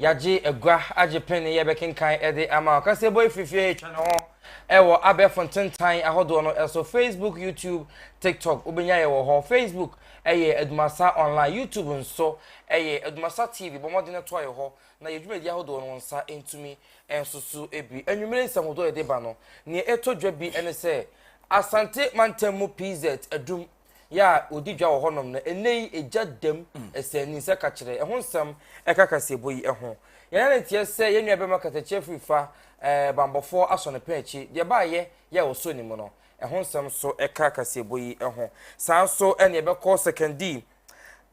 Yɛagye agua agye pen ne yɛbɛkenkan de ama. Ɔkasɛbɔ yi firi fie retwa ne ho wɔ abɛɛfo ntentan ahodoɔ no so, Facebook, YouTube, TikTok, wobɛnya yɛ wɔ hɔ. Facebook yɛ Adumasa Online, YouTube nso yɛ Adumasa TV. Bɔ mmɔden toa yɛ hɔ na yɛn dwumadie ahodoɔ no wo nsa ntumi nsoso bi. Anwummere nsɛmhudoɔ a yɛde ba no, nea ɛtɔ dwa bi ne sɛ Asante mantam mu PZ adum yɛ a ɔdi dwa wɔ hɔnom no, ɛnnɛ yi egya dam ɛsɛn ani sɛ ka kyerɛ. Ɛho nsɛm ɛka kaseɛbɔ yi ho. Yɛn nane teɛ sɛ yɛn nuabɛma kasakyerɛ firi fa ɛɛ banbɔfoɔ asɔ ne pɛn akyi, deɛ baayɛ yɛ a ɔsɔ ne mu no. Ɛho nsɛm nso ɛka kaseɛbɔ yi ho. Saa nso ɛne ɛbɛkɔ sɛkɛndii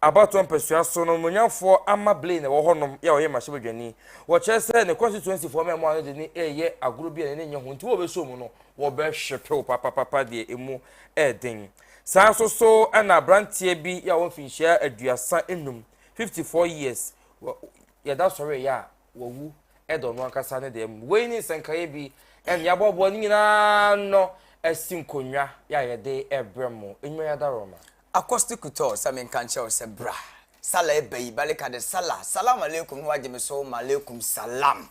Abatoɔ mpasua so no, Mmorɔnyafoɔ ama Blaine a ɛwɔ hɔ nom yɛ a ɔyɛ mmarahyɛ badwani. Wɔkyerɛ sɛ ne constituency foɔ mmaamua no de no reyɛ agorɔ bi a n'ani nyɛ ho nti wɔbɛsɔ mu no wɔbɛhwepew papapapa deɛ ɛmu yɛ den. Saa nso so na abranteɛ bi yɛ a ɔwɔ mfinhyia aduasa nnum, 54 years, wɔ yɛda sɔre yɛ a wawu da ɔno ankasa ne deɛ mu. Wei ne nsɛnkaeɛ bi ɛne aboaboa ne nyinaa no asi nkonnwa yɛ a yɛde ɛbrɛ mo. Nnwuma yɛ adaroma. Accosti Couture sɛ menka nkyerɛ wo sɛ bra Salah ɛba yi Balika de Salah Salaam Alaikum na wagye me so Malaikum Salaam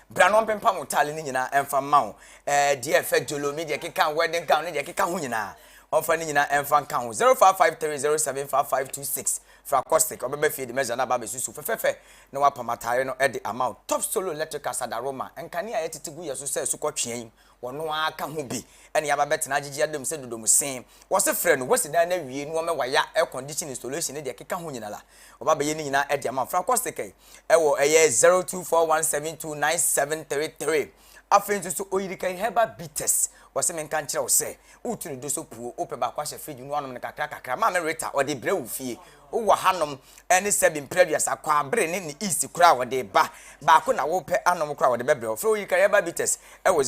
Bra na ɔmpempam wo taale no nyinaa ɛmfa mma wo eh, Deɛ ɛfɛ jolo me deɛ keka wedding gown ne deɛ keka ho nyinaa ɔmfa ne nyinaa ɛmfa nka ho 0553075526 Fra Accosti ɔbɛba fie de mɛza no aba abɛsusu fɛfɛfɛ na wapam ataare no de ama wo Top Solo Electricals Adaroma nkanea a yɛtete gu yɛ so sɛ asukɔtweaa yi Wɔno ara ka ho bi ne aba bɛtena agyegye adam sɛ dodom se wɔse frɛ no wasi dan no awie ne wɔmɛ waya air condition installation ne deɛ ɛkeka ho nyina la wɔba bɛyɛ ne nyina de ama fra kɔsekɛi wɔ ɛyɛ 0241729733 afei nso so oyirikɛi herbal bitters wɔse menka nkyerɛ wo sɛ wotu ne do so puo wopɛ baako ahyɛ fridge mu ne wanom no kakra kakra maame Rita ɔde brɛ wo fie Wowɔ hanom ne sɛbi mpere aduasa kwaa bere ne ne east koro a wɔde ba baako na wopɛ anom koro a wɔde bɛbrɛ wo frɛ oyi kariaba bites wɔ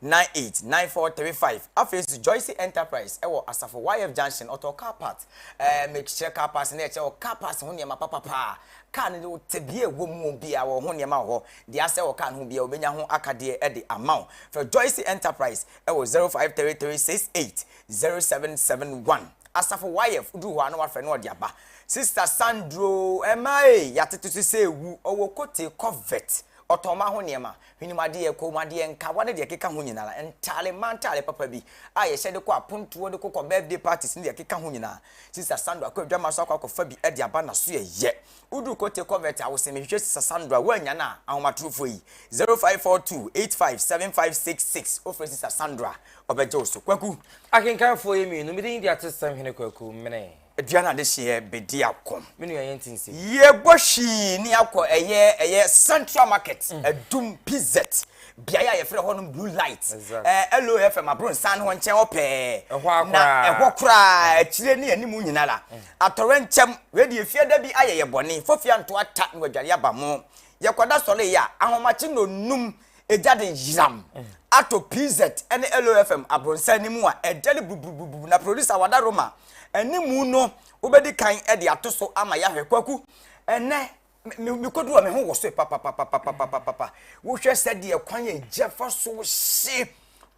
0548943435 afei nso joyce enterprise wɔ asafo yf junction ɔtɔ car part ɛɛ mekyerɛ car parts na ɛkyerɛ wɔ car parts ho nneɛma papapaa car no wo tebea ɛwɔ mu wɔ bia wɔ ho nneɛma wɔ hɔ deɛ asɛ wɔ car no ho bia wobɛnya ho akadeɛ de ama wo frɛ joyce enterprise wɔ 053368 Zero seven seven one Asafo YF wodu hɔ a na wafrɛ na ɔde aba Sister Sandro ɛma ee yɛatete so sɛ ewu ɔwɔ Kotee Covert ɔtɔn ma ho nneɛma hwenem adeɛ koom adeɛ nkawa ne deɛ ɛkeka ho nyinaa ntaale mmaa ntaale papa bi a yɛhyɛ de kɔ apontoɔ de kokɔ birthday parties ne deɛ ɛkeka ho nyinaa Sister Sandro akɔ adwama so akɔ akɔfa bi de aba na so ɛyɛ wodu Kotee Covert a wosɛ mehwehwɛ Sister Sandro a woannya no a ahomatorofoɔ yi zero five four two eight five seven five six six wofrɛ Sister Sandro a Ɔbɛgye wo so, Kwaku. Akenkanfoɔ yɛ mmienu. Me din de Atesesɛm Hene Kwaku Mene. Dua no adehyeɛ bɛdi akɔm. Me nua yɛnte nsɛm. Yɛbɔ hwii ne akɔ ɛyɛ ɛyɛ Central Market, Adum, PZ, beaeɛ a yɛfrɛ hɔ no Blue Light, ɛɛ LOFM Abronsan no hɔ nkyɛn hɔ pɛɛ. Ɛhɔ ara koraa. Na ɛhɔ koraa, akyire ne anim nyina la. Atɔrɛ nkyɛm, wei deɛ efie da bi ayɛ yɛ bɔne, fofia ntoa ta na wadware aba mo. Yɛkɔda sɔre yɛ a, ahomakye nnɔnnum Egya de yeram ato PZ ne LOFM abrɔnsan no mu a ɛdɛre buruburuburubu, na producer Wada Roma animu no wobɛdi kan de ato so ama yɛahwɛ. Kwaku, ɛnnɛ me me kodu hɔ me ho wɔ so papapapapapapapa. Wohwɛ sɛdeɛ kwan a egya fa so hye.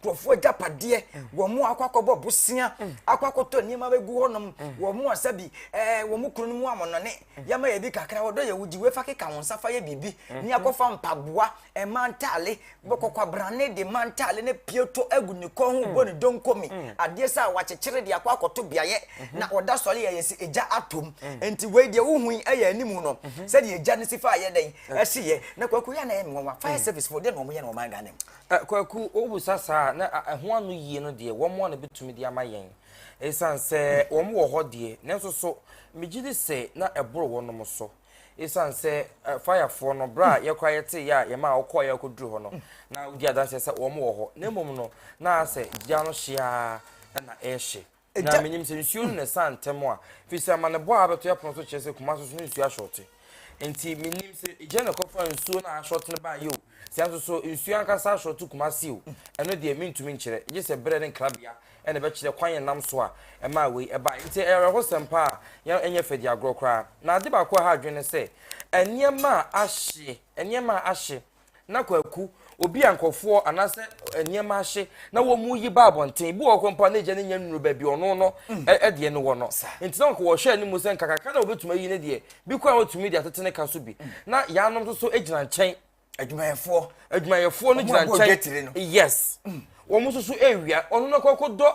nkurɔfoɔ agyapadeɛ wɔn mu akɔ akɔbɔ bosea akɔ akɔtɔ nneɛma bɛgu hɔnom wɔn mu asa bi ɛɛ wɔn mu kunu no mu amɔnɔne yɛma yɛ bi kakra wɔdɔ yɛ wogye wefa keka wɔn nsa fa yɛ biribi ne akɔfa mpaboa ɛma ntaale bɛkɔkɔ abrane de ma ntaale ne pieto agu ne kɔn ho bɔ ne donkomi adeɛ sɛ a wakyekyere de akɔ akɔto beaeɛ na ɔda sɔre yɛ yɛ sɛ egya atom nti wei deɛ wohu yi ɛyɛ anim no sɛdeɛ egya no si fa yɛ dɛn ɛsi yɛ na kwakuo yɛ na yɛ mmoa fire service fo deɛ na wɔn yɛ na wɔn agane mu. Ɛ, Kwaku, wobisa saa a, na a, ɛho ano yie no deɛ, wɔn a na bɛtumi de ama yɛn. Ɛsiane sɛ wɔn wɔ hɔ deɛ, nanso so megye di sɛ na ɛboro wɔnom so. Ɛsiane sɛ ɛ, fayafoɔ no, berɛ a yɛ koraa yɛtee yɛ a yɛmaa wɔkɔeɛ a wɔkɔduruu hɔ no, na wɔdi adanseɛ sɛ wɔn wɔ hɔ, na mmom no, na ayɛ sɛ gya no hye ara na ɛrehye. Na menim sɛ nsuo no na ɛsaa ntɛm a, ɛfiri sɛ amanebɔ a abɛto yɛn pono so kyerɛ sɛ Kumase so no nsuo ahyɔɔte. Enti menim sɛ egya na ɛkɔfaa nsuo no a ahyɔɔte no baeɛ o, sɛ nso so nsuo ankasa ahyɔɔte Kumase o, ɛno deɛ mentumi nkyerɛ, gye sɛ berɛ ne nkrabea na ɛbɛkyerɛ kwan a ɛnam so a ɛmaa wei ɛbaeɛ. Enti ɛyɛ awerɛhosɛm pa ara, yɛn ɛnyɛ fɛ di agorɔ koraa. Na ade baako a ɛha adwene ne sɛ, nneɛma a ahye, nneɛma a ahye, na kwaku obi a nkɔfoɔ anaasɛ nneɛma ahye na wɔn mu yi ba abɔnten ebi wɔ hɔ mpo a na egya no nya nnuru baabi ɔno no ɛdeɛ no wɔ no nti na nkɔwɔhwɛ anim sɛ nkakaka na wɔbɛtumi ayi no deɛ bi kɔ a wɔtumi de atete ne ka so bi na yɛanom nso so gyina nkyɛn adwumayɛfoɔ adwumayɛfoɔ no gyina nkyɛn yes wɔn nso so ewia ɔno no kɔkɔ dɔ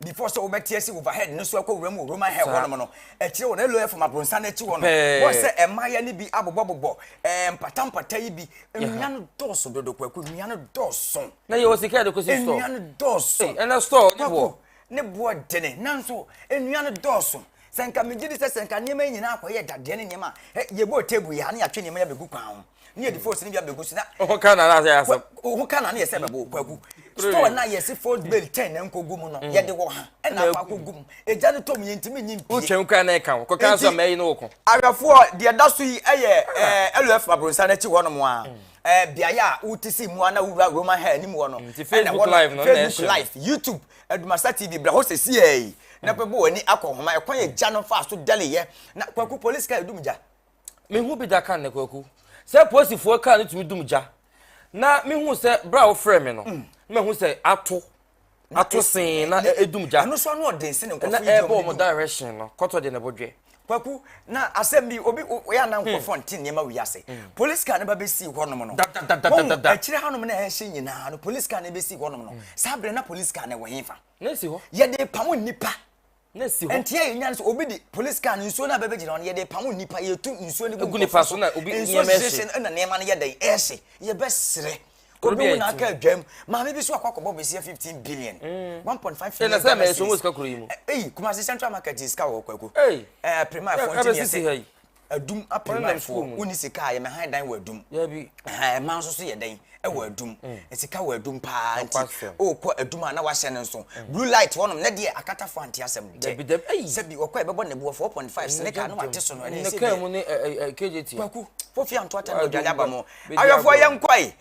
Before sɛ wobɛte asi overhead no so akɔ wuram wɔ Roman Hell hɔnom no, akyire hɔ no, ɛlɔɛ fam abronsan no akyi hɔ no, wɔn sɛ mmayewa no bi abobɔbobɔ ɛɛ mpatampata yi bi. Nnua no dɔɔso dodo, Kwaku, nnua no dɔɔso. Na yɛwɔ sika yɛde kɔsi store. Nnua no dɔɔso. Ɛna store ne boɔ. Ne boɔ dene, nanso nnua no dɔɔso. Sɛ nka megye di sɛ sɛ nka nneɛma yi nyinaa akɔyɛ dadeɛ ne nneɛma a, yɛbɔɔ table yi a, na yɛatwe nneɛma yi abɛgu kwan ho. ne yɛde fos no bi abɛgu so na ho ka na nasɛ asɛm ho ka na ne yɛsɛ bɛbo kwagu store na yɛse ford mm. bel ten na nkɔgu mu no mm. yɛde wɔ ha ɛna afa akɔgu mu ɛgya no tɔ mu yɛntimi nyi mpie wotwam kora na ɛka wo kɔka so amayi no wo ko awɛfoɔ deɛ ɛda so yi ɛyɛ ah. lf mabronsa no akyi hɔ nom a mm. beaeɛ a wote si mu a na wowura roman ha anim hɔ no ɛna wɔ facebook live youtube adumasa tv brɛ hɔ sɛ siɛi na bɛbɔ w'ani akɔ homa ɛkwan yɛ gya no fa so dɛleyɛ na kwaku police ka ɛdum gya mehu bi da kan na kwaku sɛ posifoɔ kaa no tumi dum gya na mehu sɛ berɛ a wofrɛ me no mm. na mahu sɛ ato ato sen na edum gya ɛno so ano ɔden sɛ ne nkɔfo na ɛbɔ wɔn direction no kɔtɔ de ne bo dwe kwaku na asɛm bi obi oyɛ anan hmm. nkɔfo nti nneɛma wi ase hmm. police car ne ba bɛ si hɔ nom no wɔn akyire ha nom na ɛhyɛ nyinaa no police car ne bɛ si hɔ nom no hmm. saa abirɛ na police car ne wɔ hin fa yɛde pamo nipa na si hɔ. Nti a yɛnya no sɛ obi de police car no nsuo no a bɛbɛgyina hɔ no yɛde pamo nnipa yɛtu nsuo no gu nipa so na obi nneɛma ɛhye no na nneɛma no yɛ dɛn ɛhye yɛbɛserɛ obi wo n'aka adwam maame bi so akɔ akɔbɔ besia fifteen billion mm. one point five million ghana cedis ɛna sɛ mɛ sika kuro yi mu eyi kumasi central market sika wɔ kwaku ɛɛ prima ɛfɔnti yɛ sɛ adum apere man fo woni sika a yɛmɛ han dan wɔ adum dabi ɛhan ɛman nso so yɛ dɛn ɛwɔ mm, adum mm. sika wɔ adum paa nti ɔkɔ adum a na wahyɛ no nso mm. blue light wɔnom na deɛ akata fo ante asɛm dabi dabi ayi sɛbi ɔkɔ ɛbɛbɔ ne boɔ 4.5 sene kaa no wate so no ɛne sɛ bi kgt kwaku fofi anto ata na ɔdwale aba mu awɛfoɔ yɛ nkɔe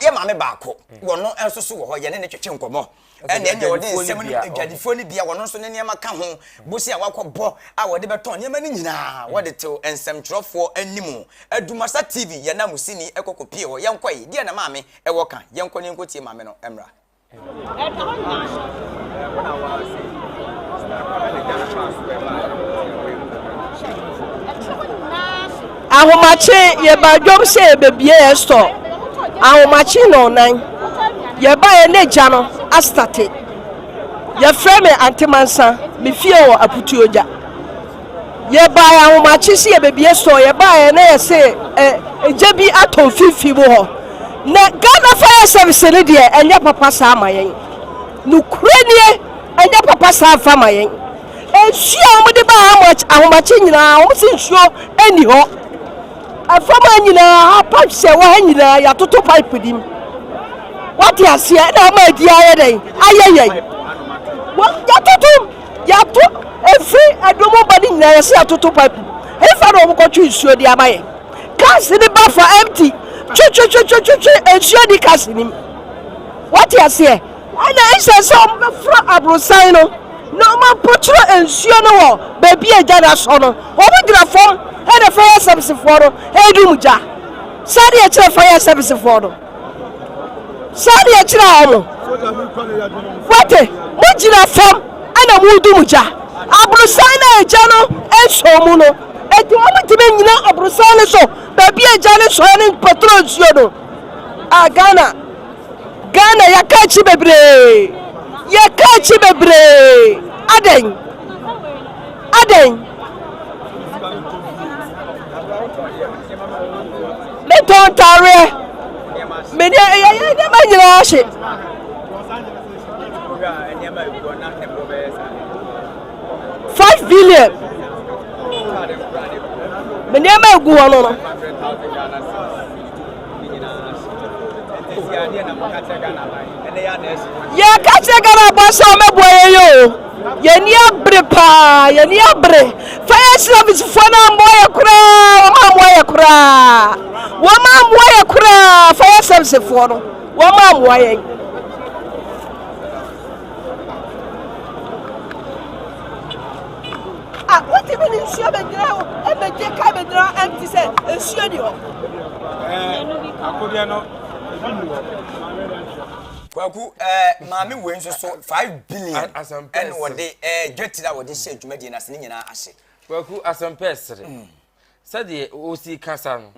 yɛ maame baako wɔno nso so wɔ hɔ yɛne ne twetwe nkɔmɔ ɛnna ɛnneɛ wɔde nsɛm no adwadifoɔ no bia wɔno nso ne nneɛma ka ho bosea a wakɔbɔ a wɔde bɛtɔn nneɛma no nyinaa hmm. wɔde tew nsɛmtwerɛfoɔ anim adumasa tv yɛn na musini ɛkɔ kɔpie hɔ yɛnkɔ yi deɛ na maame ɛwɔ ka yɛnkɔ ne yɛnkɔ tie maame no mmra Ahomakye yɛbaa dwom sɛ yɛbɛbie yɛn store Ahomakye nnɔnnan yɛbaeɛ na gya no astate Yɛfrɛ me Ante Mansa me fie wɔ Aputuogya Yɛbaeɛ ahomakye sɛ yɛbɛbie store yɛbaeɛ na yɛse ɛ gya bi atɔ mfimfini mu hɔ Na Ghana fire service no deɛ ɛnyɛ papa saa ma yɛn Nokorɛ nie ɛnyɛ papa saa mfa ma yɛn Nsuo a wɔde ba ahomakye ahomakye nyinaa, wɔn si nsuo nni hɔ. Ɛfam ha nyinaa, ha pipe sɛ wɔ ha nyinaa, yɛatoto pipe nim. Wate aseɛ na ama adi ayɛ dɛn ayɛ yɛn. Yɛatoto yɛato ɛfiri ɛdom ba ne nyinaa yɛsɛ yɛatoto pipe mu. Ɛfa na wɔkɔtwe nsuo de ama yɛn. Cars ne ba fa empty twetwetwetwetwe nsuo ni cars nim. Wate aseɛ. Ɛnna ɛsɛ sɛ wɔbɛforo aborosan no na wɔampɔkyerɛ nsuo no wɔ baabi a gya no asɔ no. Wɔbɛgyina fam na fire servicefoɔ no adum gya. Saa deɛ ɛkyerɛ fire servicefoɔ no. Saa deɛ ɛkyerɛ wɔn. Wate, mogyina fam na modum gya. Aborosan no a agya no nsɔ mu no, ɛti wɔntumi nyina aborosan no so baabi a agya no sɔɛ no mpɔtoro nsuo no. A Ghana. Ghana yɛka akyi bebree yɛka akyi bebree adɛn adɛn metɔn ntaareɛ mede ɛyɛ nneɛma nyinaa hye five billion me nneɛma egu hɔ no no Yɛka kyerɛ Ghana abɔ sɛ wɔbɛboa yɛn yɛ o. Yɛn ani abere paa, yɛn ani abere. Fire service foɔ no ammoa yɛ koraa, wɔn ammoa yɛ koraa. Wɔn ammoa yɛ koraa, fire service foɔ no, wɔn ammoa yɛn. a wotumi de nsuo bɛgyina hɔ ɛbɛgye ka bɛgyina hɔ ɛnti sɛ nsuo ni hɔ. akodeɛ no ebi ni hɔ. kwaku ɛɛ maame wei nso so five billion ɛna wɔde ɛɛ gate na wɔde hyɛ dwumadie na ase ne nyinaa ase. kwaku asɛmpɛ ɛsere. Sɛdeɛ ɔsi kasa no,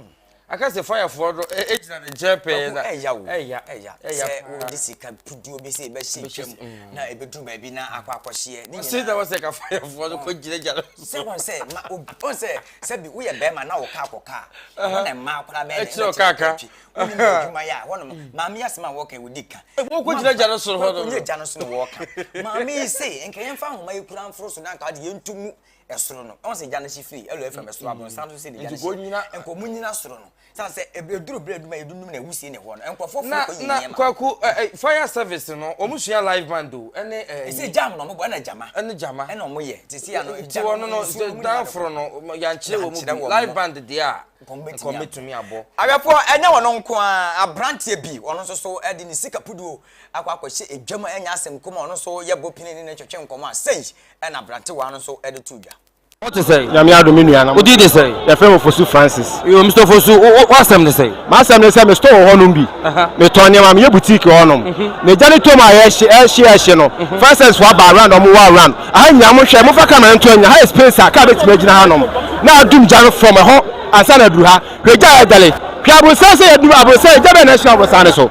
aka sɛ fayafoɔ no gyina ne nkyɛn pɛɛ na ɛya o. Ɛya, ɛya, ɛya sɛ wɔde sika puduo bi sɛ ɛbɛhyɛ ntwam mm. na ɛbɛduru baabi na akɔ akɔhyeɛ. Ne nyinaa na wɔsɛ ka fayafoɔ no kɔgyinagyina no so. Sɛ wɔn sɛ ma obi wɔn sɛ sɛbi woyɛ bɛrima na wɔka akɔka a wɔn na mmaa koraa bɛyɛ dɛ ɛbɛtena twi wonim yɛ adwuma yɛ a hɔnom mm. maame yɛ asɛm a wɔka wɔdi ka. Wɔkɔgyinagyina no soro hɔ no. Wɔkɔnyɛ gya no so na wɔka. Maame yi se nka yɛmfa ahoma yi kura mforo so na nka ade yɛntu mu ɛsoro no ɛwɔ sɛ gya no hye firi ɛlɔ ɛfam ɛsoro mm-hmm. abonsan nso sɛ ne gya no hye nkɔ mu nyina soro no san sɛ ɛduru berɛ aduma yɛdundum na ɛwusie ne hɔ no nkurɔfoɔ fo kɔ yɛ nneɛma na kwaku fire service no wɔn sua live band o ɛne ɛsɛ jam na wɔn bɔ ɛna jama ɛne jama ɛna wɔn yɛ te se ano jam wɔn no danforo no yankyerɛ wɔn mu live band deɛ a nkɔmɛtumi abɔ awɛfoɔ ɛnyɛ wɔn nko a aberanteɛ bi wɔn nso so ɛde ne sika puduo akɔ akɔhyɛ edwam ɛnyɛ asɛm kɔm wɔn nso yɛ bɔ pini ne ne twɛtwɛ nkɔmɔ a sɛyi ɛna aberantewa no nso de too dwa. Wo te sɛn? Nyame adom me nua. Wo din de sɛn? Yɛfrɛ me Fosu Francis. Yo, Mister Fosu, w'asɛm ne sɛn? M'asɛm ne sɛ me store wɔ hɔnom bi. Me tɔn nneɛma, meyɛ boutique wɔ hɔnom. Na gya no tɔm a yɛhye, ɛhye, ɛhye no, Francis fo aba around, ɔmo wɔ around. Aha nyinaa mo hwɛ, mo fa camera no nto anya, ha yɛ space a car bɛtumi agyina hanom, na adum gya no from ɛhɔ ansa na aduru ha. Hwɛ gya a ɛdale. Hwɛ aborosan sɛ yɛduru aborosan, gya bɛn na ɛhye wɔ aborosan no so?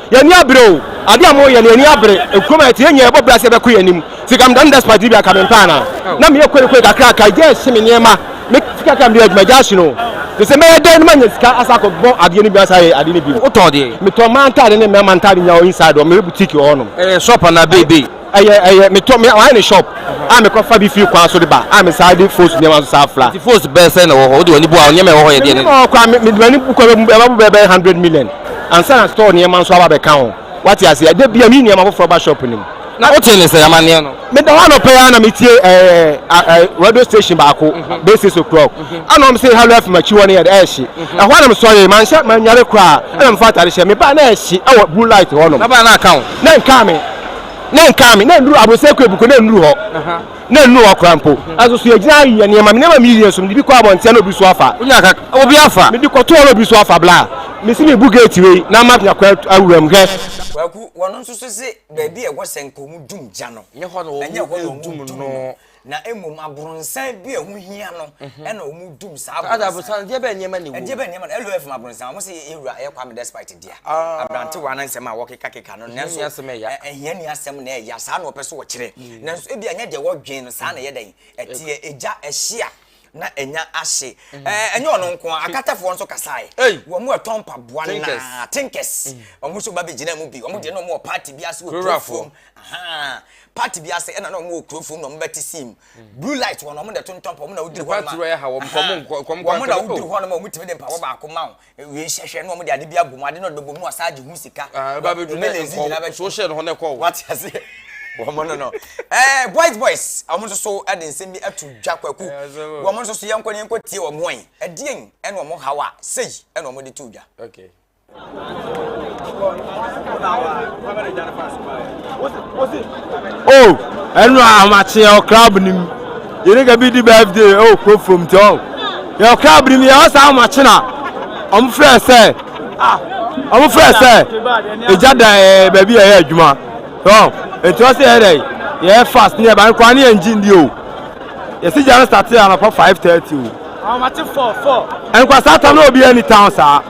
Yɛn ani abere o, ade a moyɛ no yɛn ani abere, ekurom a yɛte yɛn nyinaa yɛbɔ bra sɛ yɛbɛko yɛn anim, sika meda no da Sprite no bi anka mempɛ anaa? na meyɛ koekoe kakraka, agya ahye me nneɛma, me sika kakra a mede yɛ adwuma agya ahye no, te sɛ mɛyɛ dɛn na manya sika asa akɔ bɔ adeɛ no bi asa ayɛ adeɛ no bi. Wotɔɔ deɛ? Metɔn mmaa ntaade ne mmarima ntaade nyinaa wɔ inside hɔ, meyɛ boutique wɔ hɔnom. Ɛyɛ shop anaa bay bay? Ɛyɛ ɛyɛ me tɔ me wayɛ ne shop a me kɔ fa bi firi kwan so de ba a me saa de fosu nneɛma nso saa fra. Nti fosu bɛyɛ sɛn na ɛwɔ hɔ wode w'ani bu a nneɛma ɛwɔ hɔ yɛ deɛ ne. Nneɛma ɛwɔ hɔ koraa me mede m'ani bu koraa ɛbɛ ɛbɛ bɛyɛ bɛyɛ hundred million ansa na store nneɛma nso aba abɛka ho wate aseɛ da bia meyi nneɛma foforɔ ba shop no mu. Na wote ne sɛn amaneɛ no. Me da hɔ anɔpa yi ara na me tie ɛɛ radio station baako bɛyɛ six o'clock ɛna wɔn se Halo FM akyi hɔ no yɛ dɛ ɛɛhye ɛhɔ ara na me sɔre manhyɛ manyare koraa ɛna me fa atade hyɛ me baa na ɛɛhye ɛwɔ blue light hɔ nom. Na baa na aka wo. Na nkaa me. na nkaa me na nnuru abosɛ kɔ ebuko na nnuru hɔ na nnuru hɔ koraa mpo ɛso so yɛgyina ayɛ nneɛma me nneɛma meyɛ nso mede bi kɔ abɔntea na obi so afa wonya ka obi afa mede kɔtoɔ na obi so afa bla mesi mebu gate wei na ama nya kɔ awura mu hwɛ Kwaku, wɔn nso so se baabi a ɛwɔ sɛ nka wɔdum gya no, ɛnyɛ hɔ na wɔdum no. na mmom abronsan bi a ɛho hia no ɛna wɔn dum saa abronsan. Ada abronsan deɛ bɛyɛ nneɛma na ɛwɔ mu. Deɛ bɛyɛ nneɛma na ɛlò ɛfam abronsan wɔn sɛ yɛ wura ɛyɛ Kwame Despite deɛ ah. abrantewa na nsɛm a wɔkeka keka no nanso ɛhia ni asɛm na ɛya saa na wɔpɛ so wɔkyerɛ mm. nanso ebi anyɛ deɛ wɔdwen no saa na ɛyɛ dɛn ɛteɛ egya ɛhyia. na ɛnya ahye. Mm. Eh, ɛnyɛ ɔno nko a akatafoɔ nso kasae wɔn mu ɛtɔ mpaboa na tinkers mm. wɔn nso ba bɛgyina mu bi wɔn deɛ na wɔn wɔ party bi ase wɔ kuro fam party bi ase ɛna na wɔn wɔ kuro fam na wɔn bɛte sim mm. blue light wɔn wɔn na ɛtontɔn pa wɔn na woduru hɔ nom a wɔn na woduru hɔ nom a wɔn tumi de mpaboa baako ma wɔn Ewie nhyɛhwɛ na wɔn de ade bi abɔ mu, ade na ɔde bɛbɔ mu na ɔsan agye ho sika. Ah, ɛba bɛdu ne Ebele ezi nkɔ gyina bɛ- so hyɛ ne ho na ɛkɔ wo. Wate ase? Wɔn no no. Ɛɛ boys boys, wɔn nso so de nsɛm bi ato dwa kwaku. Ɛyɛ asɛm o. Wɔn nso so yɛnkɔ ne yɛnkɔ tie wɔn ɔn. Ɛdeɛn ɛna wɔn haw a sei ɛna wɔn de to dwa. Okay. o ɛnu ahomakyeɛ ɔkra benim Yɛne ka bi di birthday ɛwɔ kuro fam nti ɔn yɛ ɔkra abiri mi ɛwɔ saa ɔmo akyena ɔmo frɛ sɛ ɔmo frɛ sɛ egya da ɛɛ baabi yɛ yɛ adwuma ɔn nti ɔsɛ yɛ dɛ yɛ fast ne yɛ ba nkwa ne yɛ ngye ndi o yɛsi gya no start anɔpa five thirty o ɔmo ate four four nkwa saa tam na obi ɛni town saa.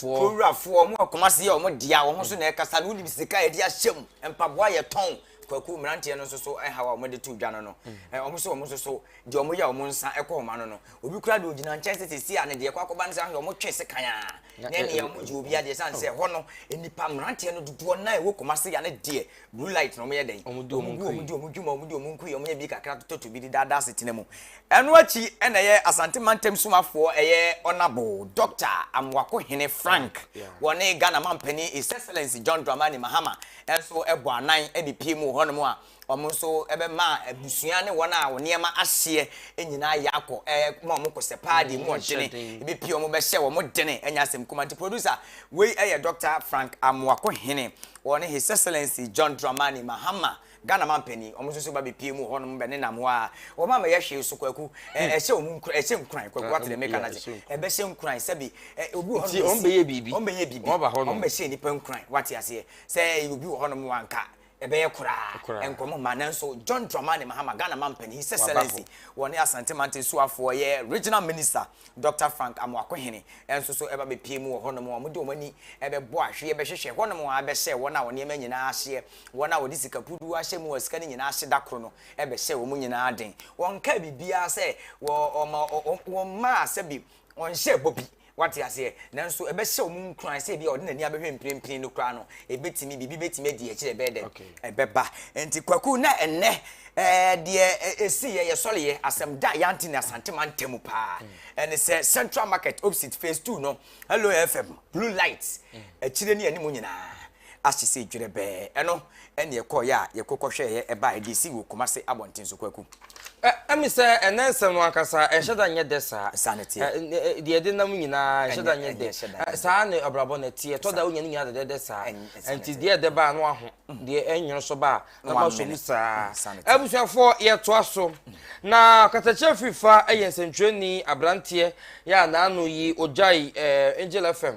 Kuro wurafoɔ, mo wɔ Kumasi yɛ wɔn dea, wɔn so na ɛkasa no, wonim sika a yɛde ahyɛ mu, mpaboa a yɛtɔn, kwaku mmeranteɛ no nso so haw a wɔde to dwa no no, wɔn so wɔn nso so deɛ wɔyɛ a wɔn nsa kɔ wɔn ano no, obi koraa deɛ ɔgyina nkyɛn sɛ sɛsi a ne deɛ ɛkɔ akɔba no sɛ ahwɛ wɔn twe sekan a, na ɛne wɔn gye obi adeɛ sane sɛ ɛhɔ no nnipa mmeranteɛ no dodoɔ no a ɛwɔ Kumasi yɛ ne deɛ Blue light na wɔyɛ dɛn? Wɔn di wɔn nkui. Wɔn di wɔn dwuma, wɔn di wɔn nkui, wɔyɛ bi kakra tototo bi de daadaa asetena mu. Ɛno akyi na ɛyɛ Asante mantam somafoɔ ɛyɛ Honourable Doctor Amoako Hene Frank, wɔne Ghana Mampanin His Excellency John Dramani Mahama nso bɔ anan de pie mu wɔ hɔnom a wɔn nso bɛma abusua ne wɔn a wɔn nneɛma ahyeɛ nyinaa yɛ akɔ ɛma wɔn kɔsɛ paa deɛ mu ɔdene ɛbɛpie wɔn bɛhyɛ wɔn dene ɛnyɛ asɛm kuma nti producer wei ɛyɛ Doctor Frank Amoako Hene Wɔne His Excellency John Dramani Mahama, Ghana Mampanin, wɔn nso so ba bɛpue mu wɔ hɔnom bɛnenam hɔ a wɔn a mɛyɛ hwee so Kwaku, ɛ, ɛhyɛ wɔn nkuran, ɛhyɛ nkuran, Kwaku ate deɛ meka no ase, ɛbɛhyɛ nkuran sɛbi, ɛ, obi wɔ hɔnom Nti wɔn bɛyɛ biribi, wɔn bɛyɛ biribi, wɔn aba hɔnom, wɔn bɛhyɛ nnipa nkuran, wate aseɛ, sɛ ɛyɛ obi wɔ hɔnom a nka ɛbɛyɛ koraa, nkɔmmɔ mma, nanso John Dramani Mahama, Ghana Mampanin, His Excellency, wɔne Asante Mante Suafoɔ yɛ Regional Minister Dɔkta Frank Amoakohene nso so ba bɛpuee mu wɔ hɔnom a wɔde wɔn ani bɛbɔ ahweɛ bɛhwehwɛ hɔnom ara bɛhyɛɛ wɔn a wɔn nneɛma nyina ara ahyeɛ, wɔn a wɔde sika puduo ahyɛ mu a sika no nyina ara ahye da koro no bɛhyɛɛ wɔn nyina ara den. Wɔnkaa biribiara sɛ wɔ ɔma ɔ wɔn mmaa sɛbi wɔnhyɛɛ bɔ bi, woate aseɛ, nanso ɛbɛhyɛ wɔn nkuran sɛ ebia ɔde n'ani abɛhwɛ mprempren no koraa no, ɛbɛtumi, biribi bɛtumi adi akyire a ɛbɛyɛ dɛ? Ɛbɛba. Enti Kwaku, na ɛnnɛ Ɛɛ deɛ ɛsiiɛ yɛ sɔreɛ asɛm da Yantini Asante mantamu paa. Ɛne sɛ Central Market opposite phase two no Hello FM blue light akyire ne anim nyinaa ahye sɛ dwerɛbɛɛ. Ɛno ɛne ɛkɔɔeɛ a yɛko kɔhwɛɛeɛ ɛbaeɛ de si wɔ Kumasi abɔnten so Kwaku. Ɛ ɛmi sɛ ɛnɛ nsɛm no ankasa ɛnhyɛ da nyɛ dɛ saa. Saa na ɛteɛ. Ɛ ɛ deɛ ɛde nam nyinaa ɛnhyɛ da nyɛ dɛ. Ɛ saa na abrabɔ no ɛteɛ. Ɛtɔ da wonya ne nyinaa dɛdɛɛdɛ saa. Nti deɛ ɛdɛ ba a na waho. Deɛ ɛnwono so ba a na ma so mu saa abusuafoɔ yɛtoa so na kasakyerɛ firi fa yɛ nsɛntwerɛni aberanteɛ yɛ a naano yi ɔgyae eh, angel fm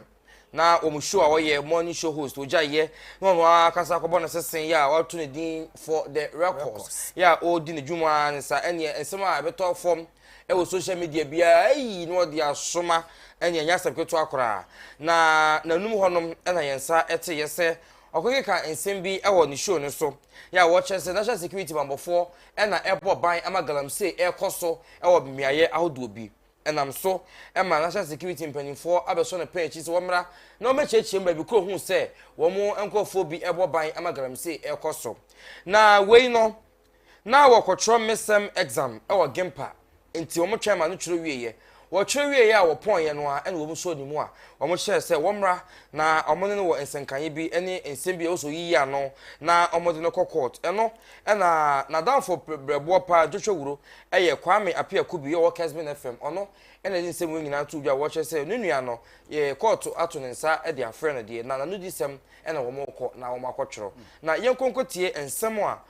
na wɔn show a wɔyɛ morning show host ɔgyaeɛ na ɔno ara kasa akɔbɔ no sese yɛ a wɔato ne din for the records yɛ a ɔredi ne dwuma ne sa ɛneɛ nsɛm a ɛbɛtɔ fam ɛwɔ social media biara ayi na ɔde asoma ɛne ɛnyɛ asɛm ketewa koraa na n'anum hɔnom ɛna yɛn nsa ɛte yɛ sɛ Ɔkekeka nsɛm bi wɔ ne show no so a wɔkyerɛ sɛ National Security bammɔfoɔ na ɛbɔ ban ma galamsey rekɔ so wɔ mmeaeɛ ahodoɔ bi. Ɛnam so ma National Security mpanimfoɔ abɛsɔ no pɛn akyiri sɛ wɔmmra na wɔmmɛkyiakyia mu baabi koro hu sɛ wɔn nkorɔfoɔ bi rebɔ ban ma galamsey rekɔ so. Na wei no, Na wɔkɔtwerɛ Midterm Exam wɔ Gimpa, enti wɔtwɛn ma no twerɛ wieeɛ. Wɔtwerɛ wieeɛ a wɔpɔneeɛ no ara na wɔn sɔɔ ne mu a wɔhyɛɛ sɛ wɔmmra na wɔne no wɔ nsɛnkaeɛ bi ne nsɛm bi a ɛwɔ sɛ ɔyiyi ano na wɔde no kɔ kɔɔt. Ɛno na n'adamfo berɛboɔ paa Joshua Wuro yɛ Kwame Appiah Kubi a ɔwɔ Kensmin FM. Ɔno na ɛde nsɛm wei nyinaa too dwa a wɔkyerɛ sɛ ne nua no kɔɔt ato ne nsa de afrɛ no deɛ na n'anodisɛm na wɔrekɔ na wɔakɔtwerɛ. Na yɛnkɔ nkɔtie nsɛm a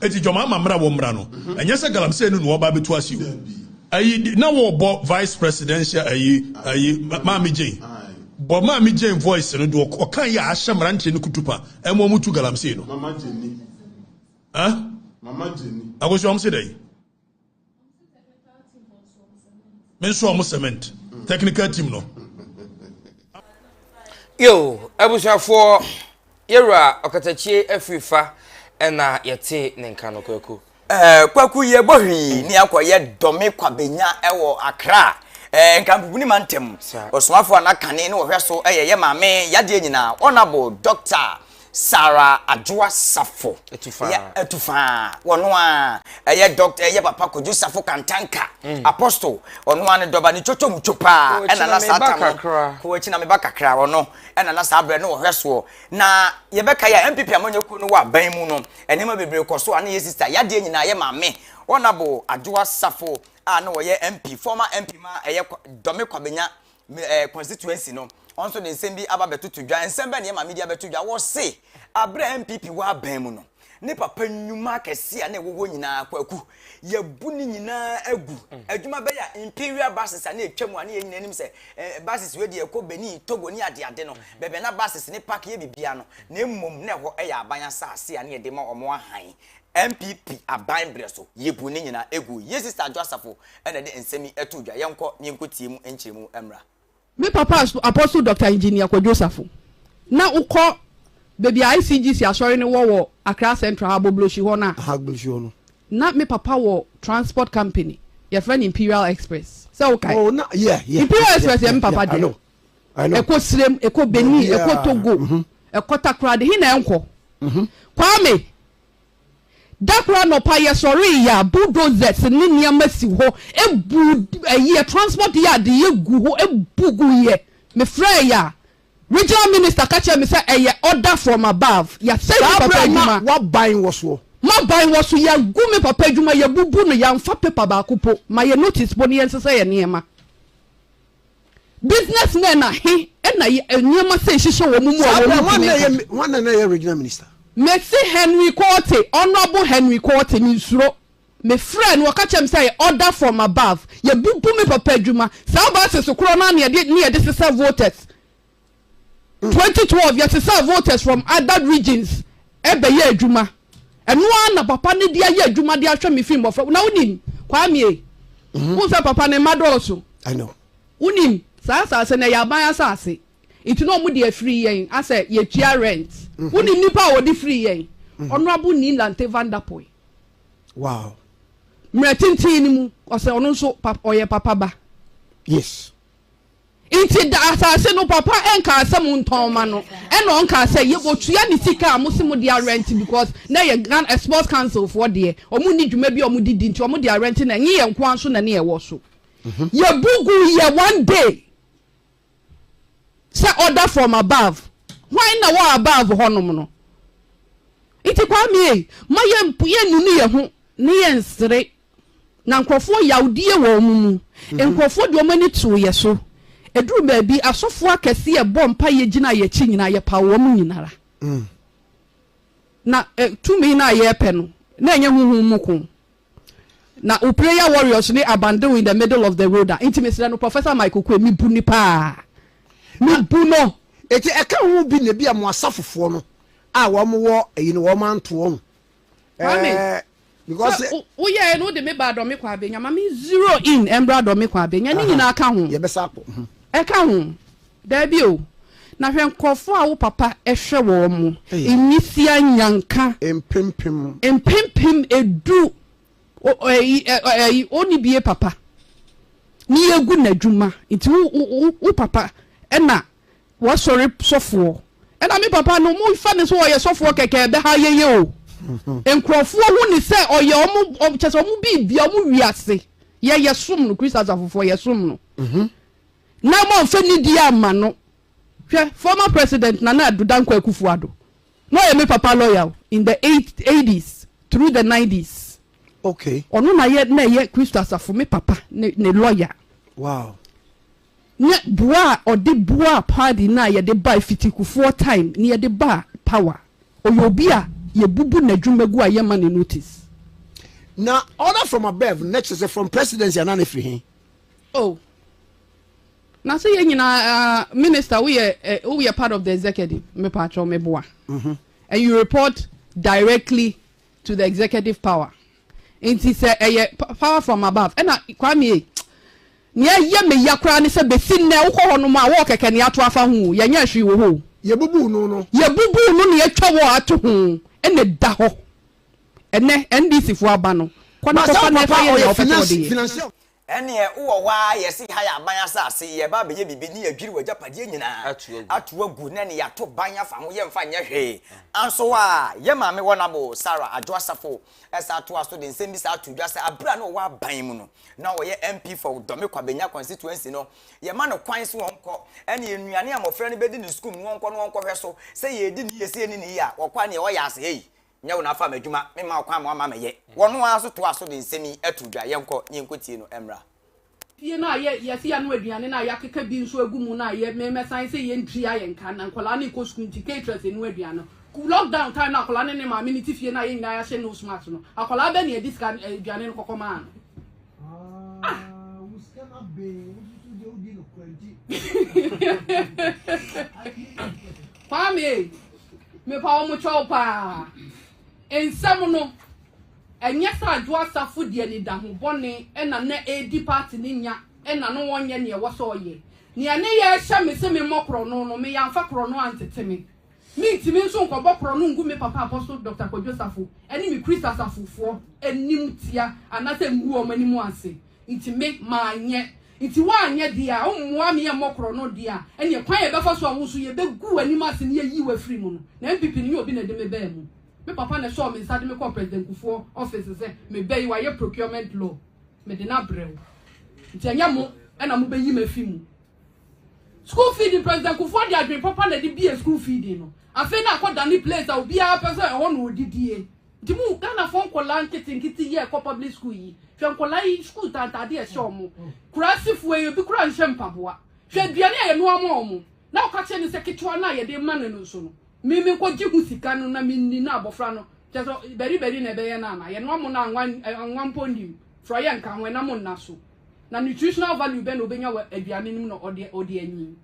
Eti dwom ama mmra wɔ mmra no. Ɛnyɛ sɛ galamsey no na wɔba abɛtu ase o. Ayi na wɔbɔ vice presidential ayi ayi maame Jane. Bɔ maame Jane voice no do ɔka yɛ ahyɛ mmeranteɛ no kutupa ɛmo ɔmo tu galamsey no. Mama Jane. Huh? Mama Jane. Akosi ɔmo se dɛn? me nso ɔmo cement technical team no. yo abusuafoɔ yɛwura ɔkatakyie afiri fa ɛna yɛte ne nka no kwaku. Eh, kwaku yɛ bɔ hwii ne akɔ yɛ dɔme kwabenya ɛwɔ akra eh, nkampubuni ma ntɛm ɔsomafoɔ a n'akane ne wɔhwɛ so ɛyɛ yɛ maame yadeɛ nyinaa honourable doctor Sarah Adwoa Safo, ɛyɛ Atufaa, wɔno ara, ɛyɛ Dɔkta, ɛyɛ Papa Kojo Safo Kantanka, mm. Apostle, wɔno ara ne dɔba, ne twotwo mu two paa, ɛna na saa tam no, kɔ akyi na meba kakra, wɔno, ɛna na saa berɛ no wɔhwɛ soɔ, na yɛbɛka yɛ a MPP amanyɛ kuo no wɔ aban mu no, nneɛma bebree kɔ so a na yɛ sista, yadeɛ nyinaa yɛ maame, Honorable Adwoa Safo a na wɔyɛ MP, former MP ma ɛyɛ Dɔme Kwabenya eh, constituency no ɔno nso de nsɛm bi aba bɛtoto dwa nsɛm bɛn na yɛma media bɛto dwa wɔse aberɛ a mpp wɔ abɛn mu no ne papa nnwuma akɛse a na ɛwɔ hɔ nyinaa kwaku yɛbu ne nyinaa agu mm. adwuma bɛyɛ a imperial buses a na ɛtwa mu a ne yɛ nyina anim sɛ eh, buses wei deɛ ɛkɔ benin togo ne adeade no mm-hmm. bɛbɛ na buses ne park yɛ bibia no na mmom na ɛhɔ ɛyɛ aban asase a ne yɛde ma ɔmo ahan NPP aban berɛ so yɛbu ne nyinaa ɛguo yie Sister Adwo Asafo na ɛde nsɛm yi ɛtoo dwa yɛnkɔ na yɛnkɔ tie mu nkyerɛmu mmra. Me papa Apostle Doctor Engineer Kwadwo Osafo na wo kɔ baabi a ICGC asɔre no wɔ wɔ Accra Central ha Agbogbloshie hɔ no a. Aha Agbogbloshie hɔ no. Na me papa wɔ transport company yɛfrɛ no Imperial Express sɛ wo kae. Oh na yeah yeah. Imperial Express yɛ me papa deɛ. Yeah yeah I know. Ɛkɔ Sirem, ɛkɔ Benin, ɛkɔ Togo, ɛkɔ Takoradi, he na ɛnkɔ? Kwame, Da koro anɔpa yɛsɔree ya, bulldozers ne nneɛma si hɔ, ebu ɛyi yɛ transport yard yɛ gu hɔ, ebu gu yɛ. Mefrɛɛ ya regional minister ka kyerɛ me sɛ ɛyɛ order from above, yɛasɛe me papa adwuma. Saa berɛ na w'aban wɔ soɔ? M'aban wɔ so, yɛagu me papa adwuma, yɛabubu no, yɛamfa paper baako po ma yɛ notice po ne yɛnsesa yɛ nneɛma. Business men a he na yɛ nneɛma sei hyehyɛ wɔn mu a Saa wɔn berɛ, hwan ntumi na nka? ɛyɛ hwan na na ɛyɛ regional minister? Mese Henry Quartey, Honourable Henry Quartey, mensuro. Mefrɛɛ no, ɔka kyerɛɛ me sɛ yɛ order from above. Yɛbubu me papa adwuma. Saa buses korɔ no ara na yɛde ne yɛde sesa voters. Twenty twelve yɛsesaa voters from other regions bɛyɛɛ adwuma ɛno ara na papa no de ayɛ adwuma de ahwɛ me firi mmɔfra na wonim kwamie mhm. wo sɛ papa ne mma dɔɔso wonim saa asase no ɛyɛ aban asase nti na ɔmo de afiri yɛn asɛ yɛtua rent mhm. wonim nipa a wɔde firi yɛn ɔnoabo mhm. ni lante vandapoy wow mmerɛ tenten no mu ɔsɛ ɔno nso ɔyɛ papa ba yes Nti da asase no papa nkaa sɛ mo ntɔn mma no ɛna ɔnkaa sɛ yɛ bɔ tua ne sika a mo se mo de arɛnte because na ɛyɛ Ghana sports council foɔ deɛ ɔmo nni dwuma bi a ɔmo de di nti ɔmo de arɛnte na ɛnye yɛn nkoa nso na ne ɛwɔ so yɛ bu gu yɛ one day sɛ order from above hwan na wɔ above hɔ nom no nti kwame ei ma yɛ yɛ nunu yɛ ho ne yɛ nsere Na nkurɔfoɔ yawdie wɔ wɔn mu. Nkurɔfoɔ de wɔn ani too yɛ so. Ɛduruu baabi, asɔfoɔ akɛseɛ bɔɔ mpaeɛ gyinaa yɛn akyi nyinaa, yɛpaw wɔn nyina ara. Na ɛ, tumi no a yɛrepɛ no, na ɛnyɛ honhom mu ko. Na wo prayer warriors ne abandon in the middle of the road a, nti mesrɛ no, Professor Mike Oquaye, mebu no paa. Mebu no! Enti ɛka ho bi na ebia mo asafofoɔ no a wɔn wɔ ayi no wɔn anto wɔn Kwame, sɛ woyɛɛ no wode me baa dɔme kɔ abenya ma me zero in ɛmbra dɔme kɔ abenya ne nyinaa ka ho. Yɛbɛsa akɔ. Mhm. Ɛka ho. Daabi o. Na hwɛ nkurɔfoɔ a wo papa hwɛ wɔn mo. Nwisia nyanka. Mpempem. Mpempem edu. Ɔni bie papa. Ne yɛgu n'adwuma. Nti wo papa ɛna W'asɔre sɔfoɔ ɛna me papa no mo fa no sɛ ɔyɛ sɔfoɔ kɛkɛ ɛbɛha yɛn yɛ o nkorɔfoɔ hu ne sɛ ɔyɛ ɔmo kyɛ sɛ ɔmo biribia ɔmo wiase yɛ yɛ som no Christ asafofoɔ yɛ som no na ɔmo anfa nidie amma no hwɛ former president Nana Addo Dankwa Akufo Addo na ɔyɛ me papa lawyer o in the eighties through the nineties okay ɔno na yɛ na ɛyɛ Christ asafo me papa ne ne lawyer wow Nyɛ boa a ɔde boaa party no a yɛde bae fitikufoɔ time ne yɛde baa power ɔyɛ obi a yɛbubu nadwuma gu a yɛma no notice. Na order from above na kyerɛ sɛ from presidency anaa na ɛfiri he? Oh na sɛ yɛn nyinaa ah minister woyɛ eh woyɛ part of the executive mepaakyɛw meboa and you report directly to the executive power. Nti sɛ ɛyɛ power from above ɛna Kwame ei Nea ɛyɛ me ya koraa ne sɛ bɛsi nnɛ wokɔ hɔ nom a wɔɔ kɛkɛ nea ato afa ho o yɛnyɛɛ hwee wɔ hɔ o. Yɛbubuu no no. Yɛbubuu no nea atwa wɔɔ ato ho ɛna ɛda hɔ ɛnɛ NDC foɔ aba no kɔ na kɔfa na ɛfa yɛ nea wopɛ sɛ wɔde yɛ. Ɛnneɛ wowɔ hɔ ara yɛse ha yɛ aban asase, yɛreba abɛyɛ biribi ne yɛadwiri w'agyapadeɛ nyinaa ato agu na ɛnneɛ yɛato ban afa ho, yɛmfa nyɛ hwee. Anso a, yɛn maame Wɔnabo, Sarah Adwo Asafo, san toa so de nsɛmmisa ato dwa sɛ berɛ a na ɔwɔ aban mu no, na ɔyɛ MP for Dome Kwabenya Constituency no, yɛma no kwan sɛ ɔnkɔ, ɛnneɛ nnuane a mmɔfra no bɛdi ne sukuum no ɔnkɔ na ɔnkɔhwɛ so, sɛ yɛredi ne yie, sɛ yɛnni ne yie a, ɔkɔ ɛnneɛ ɔyɛ asɛe. Nyɛ wo na afa m'adwuma, memma wo kwan ma woama mɛyɛ. Wɔno ara nso toaa so de nsɛm yi too dwa, Yɛnkɔ, na yɛnkɔtie no mmra. Fie no a yɛ yɛse yɛano aduane no a yɛakeka bi nso agu mu no a yɛ mɛsan se yɛntua yɛn ka na nkwadaa no rekɔ sukuu nti caterers anu aduane no ku lock down time no a akwadaa no ne maame no te fie no a yɛn nyinaa yɛahyɛ nose mask no akwadaa bɛn na yɛde sika eh, aduane no kɔkɔ maa no ah Kwame, mepa wo mokyɛ wo paa. Nsɛm no, ɛnyɛ sɛ Adwo Asafo de anidaho bɔne na na ɛredi party no nya na na ɔnyɛ nea ɛwɔ sɛ ɔyɛ. Nea ne yɛɛ hyɛ me sɛ memmɔ korɔno no, me yɛamfa korɔno antete me. Mentumi nso nkɔbɔ korɔno ngu me papa Apostle Doctor Kwadwo Safo ne me Christ Asafofoɔ animtia anaasɛ ngu wɔn anim ase. Nti me, manyɛ. Nti woanyɛ deɛ a, wommoa me yɛmmɔ korɔno deɛ a, ɛneɛ kwan a yɛbɛfa so a wo nso yɛbɛgu w'anim ase na yɛayi wo afiri mu no. Na NPP no nyɛ obi na ɛde me baa mu. Me papa na ɛsɔɔ me nsa de me kɔɔ President Kufuor office sɛ meba yi, wayɛ procurement law, mede no abrɛ wo. Nti ɛnyɛ mo na mobɛyi me afi mu. School feeding, President Kufuor de adwene papa na ɛde buee school feeding no. Afei na akɔdane place a obiara pɛ sɛ ɛhɔ na ɔdidie. Nti mo Ghanafoɔ nkwadaa nketenkete yi a ɛkɔ public school yi, hwɛ nkwadaa yi school ntantaadeɛ a ɛhyɛ wɔn, Kuraasifoɔ yi ebi koraa nhyɛ mpaboa, hwɛ aduane a yɛnoa ma wɔn na woka kyerɛ no sɛ ketewa no a yɛde rema no no nso no, me menkɔgye ho sika no na menni na abɔfra no, kyerɛ sɛ baribari na ɛbɛyɛ no anaa? Yɛnoa mo no a anwa anwa mpo nnim, frɔeɛ nka ho, ɛnam nna so. Na nutritional value bɛn na ɔbɛnya wɔ aduane no mu na ɔde ɔde anyin?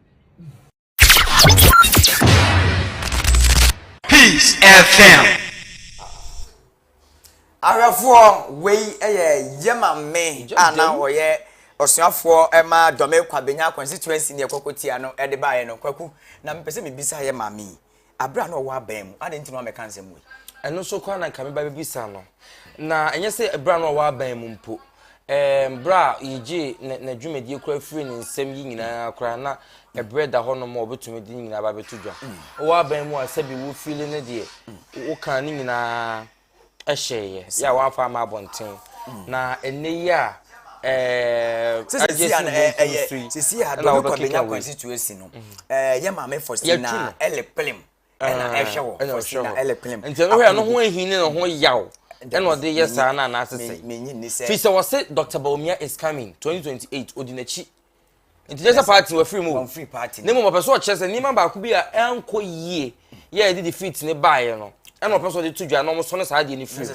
Peace FM. Ahwɛfoɔ wei yɛ yɛma me a na ɔyɛ ɔsuafoɔ ma dɔme kwabenya constituency ne ɛkɔkɔtia no ɛde baeɛ no kwaku na mepɛ sɛ mebisa yɛ maame yi Bere a na ɔwɔ abɛn mu, adɛn nti na wammɛka nsɛm wei? Ɛno nso koraa na nka meba bɛbisa no. Na ɛnyɛ sɛ bere a na ɔwɔ abɛn mu mpo, ɛɛm, bere a yɛgyee n'adwumadie koraa firii ne nsɛm yi nyinaa koraa na ɛberɛ da hɔ nom a ɔbɛtumi de ne nyinaa ba bɛto dwa. Wowɔ abɛn mu a sɛbi wo fiili ne deɛ wokaa ne nyinaa. hyɛɛ yɛ yɛ a wɔamfa ama abɔnten na ɛnɛ yi a agye si bɔnten so yi sisi a dɔbi kɔ benya constituency no yɛ maame Faustina ɛlɛ plim ɛna ɛhwɛ wɔ Faustina ɛlɛ plim nti ɛno hwɛ ɛno ho ehi ne ho yaw ɛna ɔde yɛ saa na anaasesɛ fi sɛ wɔse Dr. Bawumia is coming 2028 odi n'akyi nti kyerɛ sɛ party wafiri mu wafiri party ne mu ɔpɛ so ɔkyerɛ sɛ nneɛma baako bi a ɛnkɔ yie yɛ ɛde defeat ne baeɛ no ɛna ɔpɛ so ɔde to dwa na ɔmo sɔne saa deɛ ne firi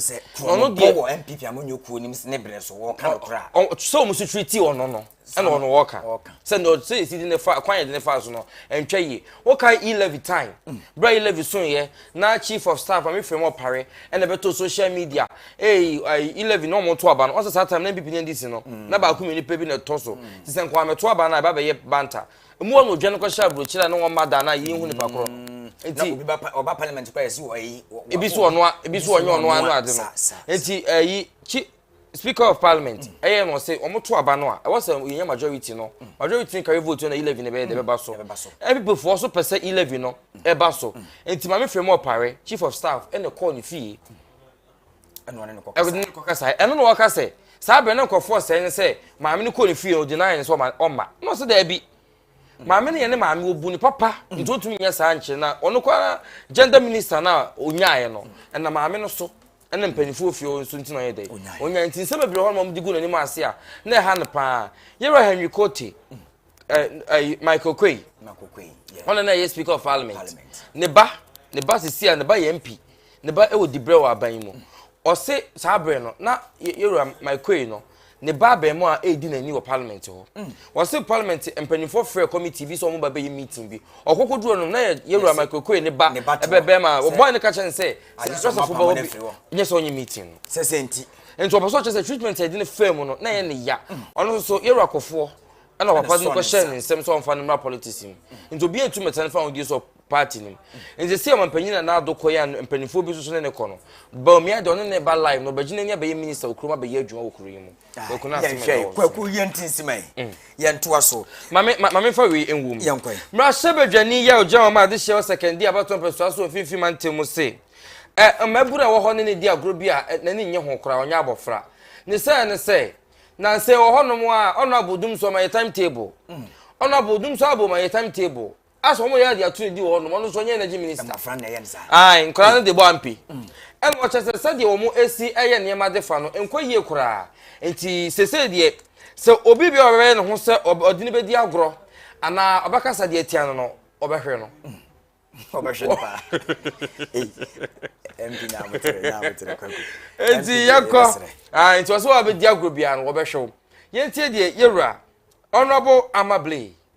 mu ɔno deɛ wɔ npp a monyɛ kuo nim ne berɛ so wɔka no koraa sɛ ɔmo so tiri ti ɔno no ɛna ɔno wɔka sɛ na ɔsɛ ɛsi de ne fa kwan yɛde ne fa so no ɛntwa yie wɔka e-levy time mm. berɛ e-levy so yɛ Na chief of staff Kwame Fremu Opare ɛna ɛbɛto social media eyi ayi eleven na wɔn to aba no ɔsɛ saa time na NPP ne NDC no na baako mmienu nipa bi na ɛtɔ so ti sɛ nkɔla mɛto aba no a ɛba bɛyɛ banta emu wɔ na odwa no kɔhyɛ aburokyire a ne wɔn mma da na yɛn hu nipa korɔ no nti obi ba ɔba parliament kora yɛsi wɔ eyi ebi so ɔnoa ebi so ɔnyɛ ɔnoa no ade no nti ɛyi chi speaker of parliament ɛyɛ mm. na ɔsɛ wɔn to aba no a ɛwɔ sɛ yɛn yɛ majority no mm. majority carry vote na eleven na ɛbɛyɛ de ɛbɛba so mpp foɔ so pɛ sɛ eleven no mm. ɛba so nti maame fɛn mu ɔpare chief of staff ɛna kɔɔ ne fie ɛna ne kɔ kasa ɛno na ɔka sɛ saa abirɛ ne nkɔfoɔ sɛ ne sɛ maame ne kɔɔ ne fie no ɔdi nan ne sɛ ɔma ɔma na ɔsɛ dɛbi. maame no yɛ ne maame obu ne papa mm. nti otumi nyɛ saa nkyɛn na ɔno kɔ ara gender minister na onyaayɛ no ɛna maame no so ɛna mpanyinfoɔ fie nso nti na ɔyɛ dɛ onyaayɛ nti nsɛm bebree hɔ na wɔn de gu n'anim ase a na ɛha no paa yɛrɛ henry kote ɛɛ ɛɛ michael kwei ɔno na ɛyɛ speaker of parliament ne ba ne ba sisi a ne ba yɛ mp Ne ba wɔ dibrɛ wɔ aban yi mu. Ɔse saa berɛ no na yɛwura Maikoei no ne ba abɛɛmoa a ɛredi n'ani wɔ parliament hɔ. Ɔse mm. parliament mpanimfoɔ frɛ committee bi sɛ wɔn ba bɛyɛ meeting bi. Ɔkoko duro no na yɛwura Maikoei ne ba ɛbɛbɛɛma wɔbɔe no ka kyerɛ no sɛ sɛdɛsɛfo bɛwɔ bi nyɛ sɛ ɔnyɛ meeting no. Sɛ sɛ nti. Nti ɔpɛ sɛ ɔkyerɛ sɛ treatment a yɛde no faa mu no na ɛyɛ ne ya. Mm. Ɔno nso yɛwura kɔfoɔ ɛna papa no kɔhyɛ ne nsɛm sɛ ɔmfa no mmra politics mu. Nti obi antu mɛtɛn fa ahodeɛ sɛ party no mu. Nti sɛ ɔmampanyin Nana Addo kɔe a mpanimfoɔ bi nso so ne no kɔ no, Bawumia deɛ ɔne ne ba live na ɔbɛgyina ni abɛyɛ minister wɔ kurom abɛyɛ adwuma wɔ kuro yi mu. Kwaku na asɛm ɛda wɔn so. Kwaku yɛn ti nsima yi. Mm. Yɛn toa so. Maame maame fa wei nwom. Yɛn kɔ. Mmarahyɛ badwani yɛ ɔgyina wɔn a ade hyɛ wɔ sɛkɛndi abatoɔ mpɛsoa so mfimfini mantam mu se. Ɛ mmabunu a ɛwɔ hɔ ne ne di agorɔ bi a n'ani nye ho koraa ɔnyɛ abɔfra. Ne sɛ ne sɛ nansa wɔ hɔnom a ɔno abodum so ɔma yɛ time table. Mm. Ɔno abodum so abɔ ma yɛ time table. As wɔn yɛ adi ato ne di wɔ hɔnom, ɔno nso ɔnyɛ energy minister. Mmɔfra na ɛyɛ no saa. Ayi, nkwadaa no de bɔ ampe. Mm. Ɛna ɔkyɛ sɛ sɛdeɛ wɔn esi ɛyɛ nneɛma de fa no nkɔ yie koraa. Nti sese deɛ sɛ obi bi a ɔbɛyɛ ne ho sɛ ɔde ne bɛdi agorɔ anaa ɔbɛkasa deɛ tia no no ɔbɛhwere no. Mm. Ɔbɛhwere no paa. Ɛmpi na amotere na amotere kwaku. Nti yɛkɔ. Ah, nti ɔsɛ wɔn a bɛdi agorɔ biara no wɔbɛhwɛ wɔn. Yɛntie deɛ yɛwura Honourable Amable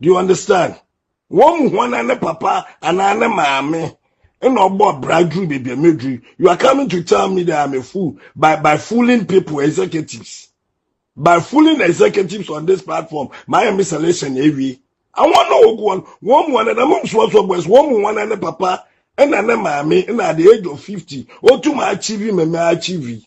do you understand wɔn mu hɔn na ne papa anaa ne maame ɛna ɔbɔ bra duru beebi a meduru you are coming to tell me that i'm a fool by by fooling people executives by fooling executives on this platform my mi selection ewie àwọn náà ogu wọn wọn mu wọn na mo nsọsọ boys wọn mu wọn na ne papa ɛna ne maame ɛna at the age of fifty otum achieve mɛmɛ achieve.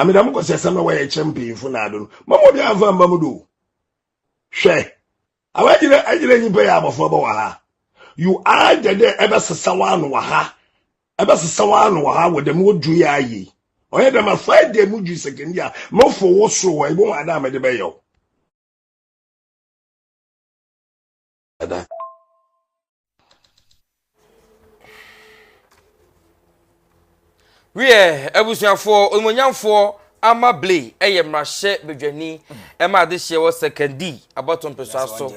Ame dɛm kɔsiasɛm na wɔyɛ kyerɛ mpanyimfo naado no, mama obiara amfa amma mu do o. Hwɛ, awo agyina agyina nyimpa yi abɔfo bɔ wɔ ha. You aagye dɛ ɛbɛsesa w'ano wɔ ha, ɛbɛsesa w'ano wɔ ha wɔ dɛm odwo yi aayɛ yi. Ɔyɛ dɛm a, fa gyae mu dwo sekende a mofo wo sor hɔ, ibohu adze a mede bɛyɛ wo. dada. wiɛ abusuafoɔ onimonyamfoɔ ama ble ɛyɛ mmarahyɛ badwani ɛma adehyeɛ wɔ second d abɔto mpesoa so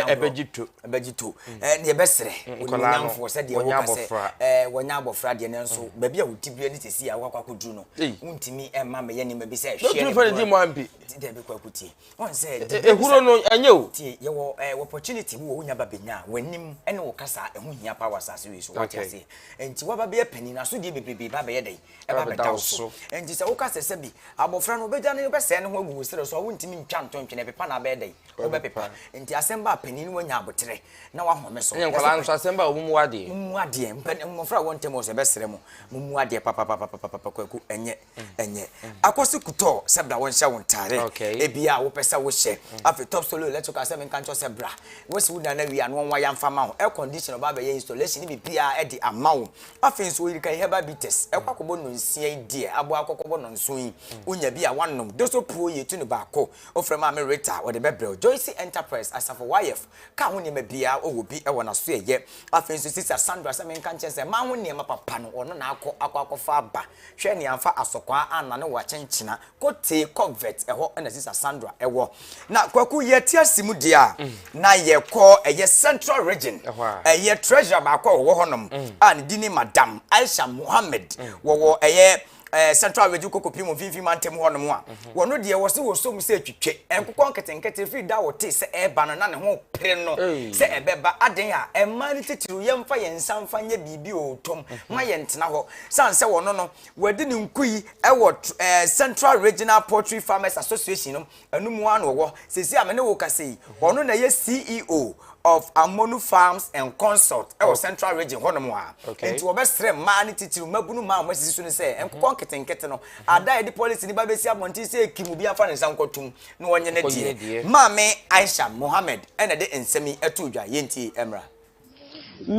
ɛbɛgye to bɛgye to mm. eh, deɛ bɛserɛ onyinamfoɔ sɛ deɛ woka sɛ eh, wɔnyɛ abɔfra deɛ no nso mm. baabi a woti berɛ ne sɛsi a woakɔ akɔduru no wontumi eh, ma meyɛ nneɛma bi sɛ hwɛdɛ bɛkɔ akɔtie ɔn sɛ ɛhuro no ɛnyɛ o tie yɛwɔ opportunity bi wɔ wonya ba bɛnya a w'anim ne wo kasa ɛho hia pa wɔ asase wei so wate aseɛ nti woaba bɛyɛ pani no asodeɛ bebrebe ba bɛyɛ dɛn ɛba bɛda wo so nti sɛ woka sɛ sɛ bi abɔfra no wobɛgya no wobɛsɛe ne ho agu wo serɛ so a wontumi ntwa ntontwene ɛpepa no abɛyɛ dɛn Wobɛpepa. Nti asɛm ba a panin no wanya aboterɛ na wahome so. Ɛne nkwadaa nso asɛm ba a wɔmmu adeɛ. Mummu adeɛ. Mpɛn mmɔfra a wɔn ntam wɔ so ɛbɛsrɛ mo. Mummu adeɛ papapapapapa kwaku ɛnyɛ ɛnyɛ. Akɔsi kutɔɔ sɛ bra wɔnhyɛ wo ntaare. Ebi a wopɛ sɛ wohyɛ. Afei top solo electrical sɛ menka nkyerɛ sɛ bra. Wosi wo dan no awie a na wɔnwaya mfa ma wo. Air condition ɔba abɛyɛ installation ne biribiara ɛde ama wo. Afei nso oyiri kai herbal bitters ɛkɔ akɔbɔ nnonsia yi deɛ aboa akɔkɔbɔ nnɔnson yi. Wonya bi a woanom. Doso puo yi yɛtu no baako. Wofrɛ Maame Rita, wɔde bɛbrɛ wo. Joyce Enterprise, Asafo YF, ka ho nneɛma biara, ɔwɔ bi wɔ n'asoɛyɛ. Afei nso Sista Sandra sɛ menka nkyerɛ sɛ mmaa ho nneɛma papa no, ɔno na akɔ akɔ akɔfa aba. Hwɛ nea amfa asɔkwaa annane wo akyenkyena. Kotee Kogvet, ɛhɔ na Sista Sandra wɔ. Na Kwaku, yɛte ase mu deɛ a, na yɛkɔ ɛyɛ Central Region, ɛyɛ Treasurer baako a ɔwɔ hɔnom a ne din ne Madam Aisha Mohammed, wɔwɔ ɛyɛ ɛɛ eh, central region kokopi mu mfimfini mantam hɔ nom a wɔn deɛ wɔsi wɔ som sɛ twitwe nkokɔ nketenkete firi da wɔte sɛ ɛreba no na ne ho pere no sɛ ɛbɛba aden a mmaa no titiriw yɛmfa yɛn nsa mfa nyɛ biribi wɔ tom ma yɛn tena hɔ san sɛ wɔn no wɔde ne nkuyi ɛwɔ ɛɛ eh, central regional poultry farmers association no Ɛno mu ara na ɔwɔ seesei a me ne wo kasa yi. Ɔno na ɛyɛ CEO of Amonu Farms and Consult ɛwɔ Central Region hɔnom a. Nti wɔbɛsrɛ mmaa no titiriw, mmabunu mmaa a wɔasisi so no sɛ nkokɔ nketenkete no, ada a yɛde policy no ba bɛsi abɔnten sɛ ekim obi amfa ne nsa nkɔto mu na wɔnyɛ ne deɛ. Maame Aisha Mohammed na ɛde nsɛm yi too dwa. Yɛntie mmra.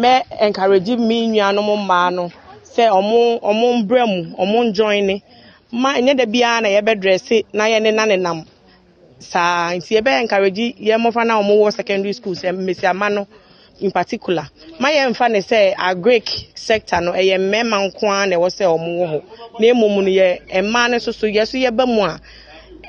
Mɛ encourage me nuanom mmaa no sɛ ɔmo ɔmo mbra mu, ɔmo njoine. Mma ɛnyɛ da biara na yɛbɛ dresse na yɛne na nenam saa. Nti yɛbɛ encourage yɛn mmofra no a ɔmo wɔ secondary school sɛ mmesiamma no in particular. Mma yɛn nfa no sɛ agric sector no ɛyɛ mmɛɛma nko ara na ɛwɔ sɛ ɔmo wɔ hɔ. Na mmom no yɛ mmaa no nso so yɛ so yɛba mu a.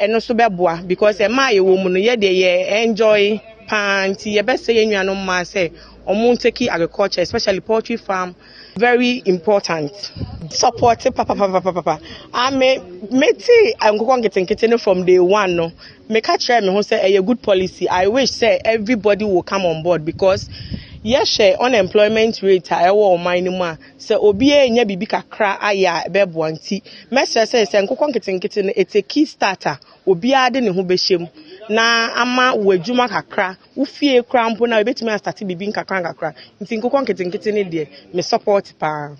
ɛno nso bɛboa because ɛma a yɛwɔ mu no yɛ deɛ yɛ enjoy paa nti yɛbɛsɛ yɛn nuanom mmaa sɛ wɔn take agriculture especially poultry farm very important. support papapapapapa ame mete nkokɔ nketenkete no from day one no meka kyerɛ me ho sɛ ɛyɛ good policy i wish sɛ everybody will come on board because yɛhwɛ unemployment rate a ɛwɔ ɔman no mu a Sɛ obi renya biribi kakra ayɛ a ɛbɛboa nti, mɛsrɛ sɛ sɛ nkokɔ nketenkete no ɛte Key Start a, obiara de ne ho bɛhyɛ mu na ama wo adwuma kakra, wo fie koraa mpo no a yɛbɛtumi astate biribi nkakrankakra. Nti nkokɔ nketenkete no deɛ, me support pa ara.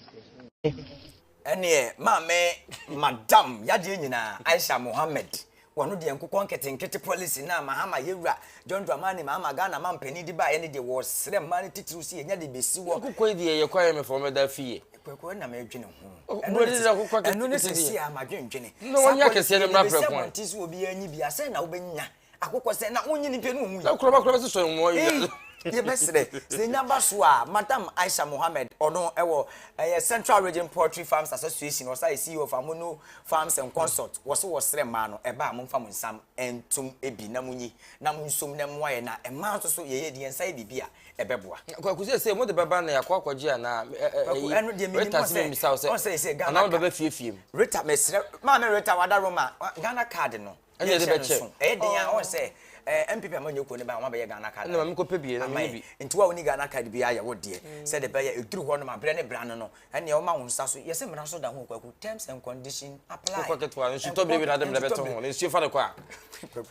Ɛneɛ maame Madam yadeɛ nyinaa Aisha Mohammed Wɔno deɛ nkokɔ nketenkete policy no a Mahama yɛwura John Dramani Mahama Ghana manpanin de baeɛ no deɛ wɔresrɛ mmaa no titiriw sɛ yɛnya de bɛsi hɔ. Nkokɔ yi deɛ ɛyɛ kwan yɛ me fam ɛda fie. Kwaku ɛna mɛdwene ho. Ɛno ne sɛsi a madwendwene. Saa policy deɛ mede bɛsi abɔnten so obiara nyi bi a sɛn na wobɛnya akokɔ sɛn na wonyi ne pɛ no ɔnwu yi. Na kuraba kuraba sisɔ mmoa yi a. Yɛbɛsrɛ sɛ ɛnya ba so a Madam Aisha Mohammed ɔno ɛwɔ ɛyɛ Central Region Poultry Farms Association ɔsa yɛ CEO of Amono Farms and Consult, wɔse wɔsrɛ mmaa no, ɛba a momfa mo nsam ntom bi na monyi na monsom na ɛmmoa yɛn, na mmaa nso so yɛyɛ de yɛn nsa yɛ biribi a ɛbɛboa. Kwaku seesei mode bɛba na yɛakɔ akɔgye anaa Kwaku, ɛno deɛ menim, ɔsɛ, ɔsɛ seesei Ghana card, Rita, mesrɛ, maame Rita wada Roma, Ghana card no, ɛna ɛde bɛkyɛ nso ɛyɛ den a wɔn sɛ ɛɛ npp ama nyɛ kuo ne ba wɔn abɛyɛ ghana card ɛna maame kɔ pɛ bi ɛna mi bi nti wa wɔn ghana card bi ayɛ wɔ deɛ mm. sɛ de bɛyɛ eduru hɔ nom abrɛ ne bra no no ɛna wɔn ma wɔn nsa so yɛsɛ mmara so da ho kwaku terms and condition apply kɔ ketewa nsutɔ bi bi na de mmerɛ bɛtɔ ho na nsuo fa de kɔ a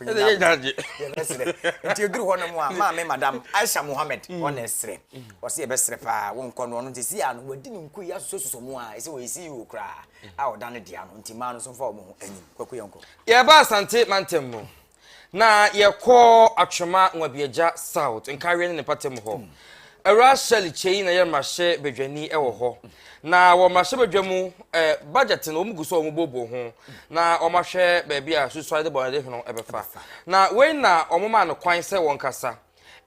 ɛna yɛ gyaagye nti eduru hɔ nom a maame madam aisha mohammed mm. wɔn na ɛsrɛ wɔsi mm. ɛbɛsrɛ paa wɔn nkɔ no ɔno nti si a no wɔdi ne nko yi asosɔ soso mu a ɛsɛ wɔyɛ ceo koraa a ɔda no dea no nti mmaa no nso mfa wɔn ho anim. Kwaku yɛnkɔ. Yɛba Asante mantam mu na yɛkɔ Atwema Nwabiagya South, Nkareɛ ne ne mpatamu hɔ. Hmm. Awura Shirley Kyei na yɛ mmarahyɛ badwani wɔ hmm. hɔ. Na wɔ mmarahyɛ badwa mu eh, budget no wɔn gu so wɔn bobo ho hmm. na wɔn ahwɛ baabi a susuade bɔnade ho ɛbɛfa. Na wei na wɔn maa no kwan sɛ wɔn kasa.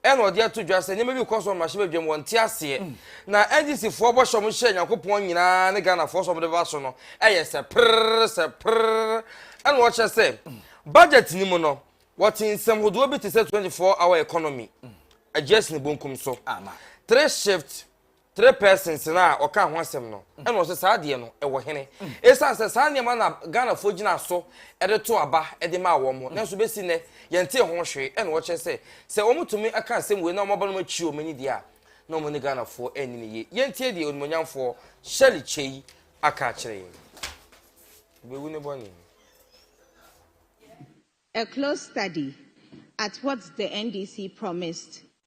Ɛna ɔde ato dwa sɛ nneɛma bi rekɔ so wɔ mmarahyɛ badwam, wɔnte aseɛ. Na NDCfoɔ bɔhyɛ a wɔhyɛɛ Nyankopɔn nyinaa ne Ghanafoɔ sɛ wɔde bɛba so no yɛ sɛ prrrr sɛ prrrr. Ɛna wɔkyerɛ sɛ budget no mu no, wɔte nsɛm hodoɔ bi te sɛ 24 hour economy, aduasin bonkum so, three shift three persons no a ɔkaa ho asɛm no ɛna ɔsɛ saa adeɛ no ɛwɔ hene ɛsiane sɛ saa nneɛma na ghanafoɔ gyina so ɛde to aba ɛde maa wɔn mo nanso bɛsi nnɛ yɛntee ho hwee ɛna ɔkyerɛ sɛ sɛ wɔn tumi ɛka asɛm wei na wɔn aba no akyi wɔn ani deɛ a na wɔn ne ghanafoɔ ɛnni ne yie yɛntie deɛ onimonyamfoɔ Shirley Kyei aka akyerɛ yɛn bɛwu ne bɔne A close study at what the NDC promised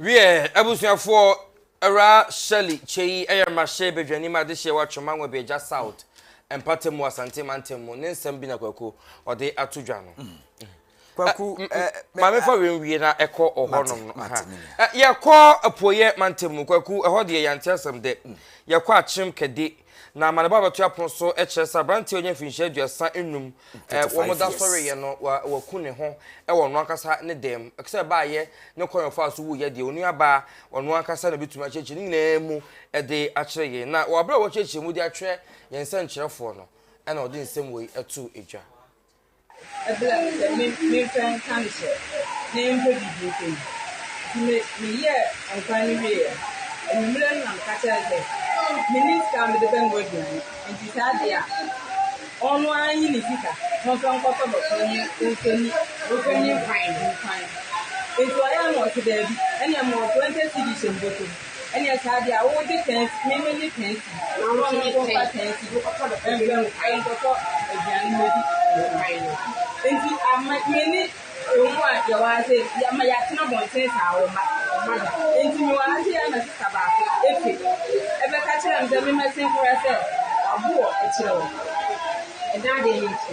Wiɛ, abusuafoɔ, Awuraa Shirley Kyei yɛ mmarahyɛ badwanim adehyeɛ wɔ Atwoma Nwabiagya South mpɔtam wɔ Asante mantam mu. Ne nsɛm bi na Kwaku ɔde ato dwa no. Mm. Kwaku, eh, ma mefa wei nwie na ɛkɔ ɔhɔnom no. Yɛkɔ apueɛ mantam mu, Kwaku, ɛhɔ deɛ yɛante asɛm dɛ. Mm. Yɛkɔ Akyem Kɛde Na amanebɔ a wɔbɛto apono so kyerɛ sɛ aberanteɛ a ɔnyɛ mfinhyia aduasa nnum a wɔda so reyɛ no, waku ne ho wɔ ɔno ankasa ne dan mu. Sɛ ɛbaeɛ ne kwan a ɔfaa so wuiɛ deɛ, onuabaa ɔno ankasa na ɔbɛtumi akyerɛkyerɛ ne nyinaa mu de akyerɛ yɛn. Na wɔ berɛ a wɔrekyerɛkyerɛ mu de akyerɛ yɛn nsɛnkyerɛfoɔ no na ɔde nsɛm wei too dwa. Ebla sɛ me me mfɛ nka no sɛ me mpɛ biribi nka yi. Nti me me yɛɛ nkwan no wie yɛ. Ewimerɛ no na me ka kyerɛ no sɛ me nni sika a me de bɛ noa aduane nti saa deɛ a ɔno ara nyi ne sika na ɔmfa nkɔ tɔ dɔkono ne ɔmfa nni ɔmfa nni nkwan no nkwan. Nti ɔyɛ a na ɔse daabi ɛneɛ mewɔ 20 cedis a mbotum. Ɛneɛ saa deɛ a wo gye tɛnsi me me gye tɛnsi na wo ne nko fa tɛnsi no kɔtɔ dɔ ɛbɛ mu ɛn kɔtɔ aduane mu ɛdi ɛkwan no nti ama me ne ɛmu a yɛ wɔ ha sɛ yɛ ma yɛ atena bɔnten saa wɔ ma ma da nti me wɔ ha sɛ yɛ ma sisa baako ɛpe ɛbɛ ka kyerɛ me sɛ me mɛ se nkora sɛ aboɔ ɛkyerɛ wɔ ɛda adeɛ me nti.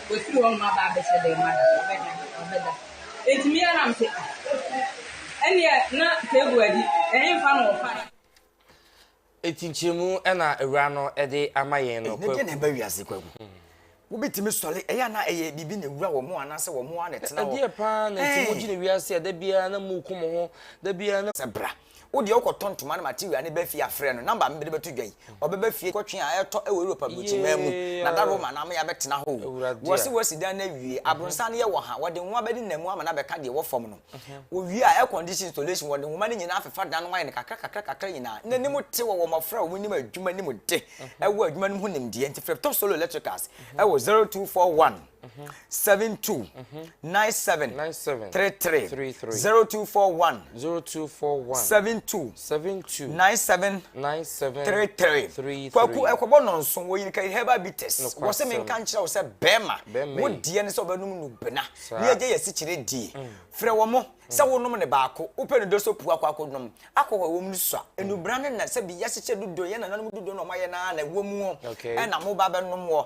Wafiri hɔnom aba abɛhyɛ dɛn ma da? Ɔbɛda, ɔbɛda. Enti me ara na mese, ah, ɛnneɛ na table adi, ɛhefa na wɔfae? Enti nkyerɛmu na Awuraa no de ama yɛn no, Kwaku. Ɛnyɛ deɛ na ɛba wiase, Kwaku. Wobɛtumi sɔre, ɛyɛ a na ɛyɛ biribi na ɛwura wɔn anaasɛ wɔn ara na ɛtena hɔ. Ɛdeɛ pa ara na nti mogye no wiase a da biara na moreku mo ho, da biara na. Sɛ bra. Wo deɛ wokɔ tɔ ntoma ne material ne ba fie a frɛ no number me mede bɛto dwa yi ɔbɛba fie kɔtwe a ɛtɔ wɔ Europe abrukyimaa mu na da Roma na ama yɛabɛtena hɔ o wɔse wɔasi dan no awie abronsan no yɛ wɔ ha wɔde nwoma bɛde nam mu ama no abɛka deɛ ɛwɔ fam no wɔwie a air condition installation wɔde nwoma no nyinaa afefa dan no ayɛ no kakra kakra kakra nyinaa na anim te wɔ wɔ mmɔfra a wɔnim adwuma nim de ɛwɔ adwuma no mu ho nimdeɛ nti frɛ Top Solo Electricals ɛwɔ 0241 seven two nine seven three three zero two four one seven two nine seven three three kwaku ɛkɔbɔ nɔnso wɔ yirika herbal bitters wɔsɛ mi nka nkyerɛ wo sɛ bɛrima wo deɛ ne sɛ ɔbɛnum no bena ne agya yɛ sikyire die mm. frɛ wɔ mo sɛ wonom ne baako wopɛ ne dɔsɔ puu akɔ akɔ nom akɔ hɔ wɔm no sua mm. enubra ne na sɛ bi yɛsikyɛ dodo yɛ nananom dodo na ɔmayɛ na na ɛwɔ mu ɛna mo ba bɛnom wɔ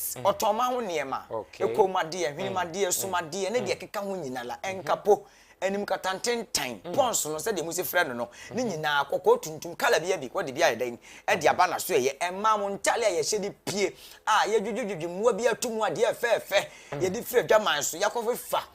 ɔtɔmma ho nneɛma, kɔnmuadeɛ, nhwenemuadeɛ, sumadeɛ, ne deɛ ɛkeka ho nyinala, nkapo, animkata ntentan, pɔns no, sɛdeɛ mose frɛ no no, ne nyinaa, kɔkɔɔ, tuntum, kala biara bi, wɔde bi ayɛ dɛn? de aba n'asoɛeɛ, mmaa mo ntale a yɛhyɛ de pie, a yɛdwodwodwodwo mmoa bi ato mu, adeɛ fɛɛfɛ, yɛde firi adwaman so, yɛakɔfefa.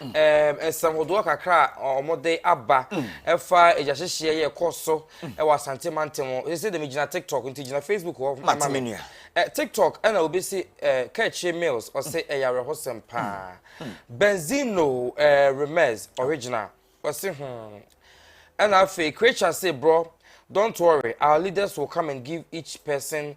Nsɛm hodoɔ kakra a wɔde aba ɛfa agyahyehyeɛ yɛ ɛkɔ so ɛwɔ Asante mantam hɔ. Sɛ sɛ dɛm gyina TikTok nti gyina Facebook hɔ ma me. TikTok ɛna obi si Kɛkyire Mills ɔse ɛyɛ awerɛhosɛm paa. Benzino Remez original ɔse hmm. Ɛna afei Krecha se brɔ don't worry our leaders will come and give each person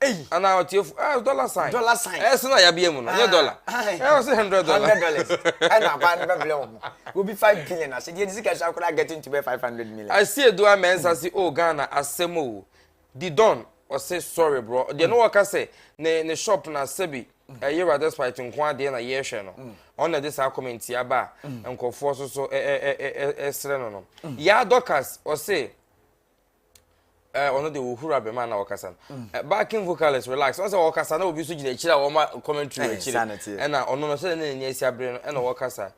Eyi. Ana ɔtiefo eh dollar sign. Dollar sign. Eh sena yabea mu no nye dollar. Eh ɔse hundred dollar. Hundred dollars. Ɛna abaa no bɛbrɛ wɔn. Obi five billion ase. Deɛ nisika sua koraa getting to bɛ five hundred million. Ase edu amɛnsa se o Ghana asɛm o. Di don ɔse sorry bro. Deɛ no wɔka sɛ ne ne shop na sɛbi ɛyɛ wura despite nko adeɛ na yɛhwɛ no. Ɔno na de saa comment yi aba a nkurɔfoɔ so so ɛsrɛ no no. Yaa Dorcas ɔse. ɔno de ohura bɛma na ɔkasa no backing vocalist relax ɔsɛ ɔkasa na obi nso gyina akyire a wɔma commentary wɔ akyire ɛna ɔno no sɛ ne n'ani asi abere no ɛna ɔkasa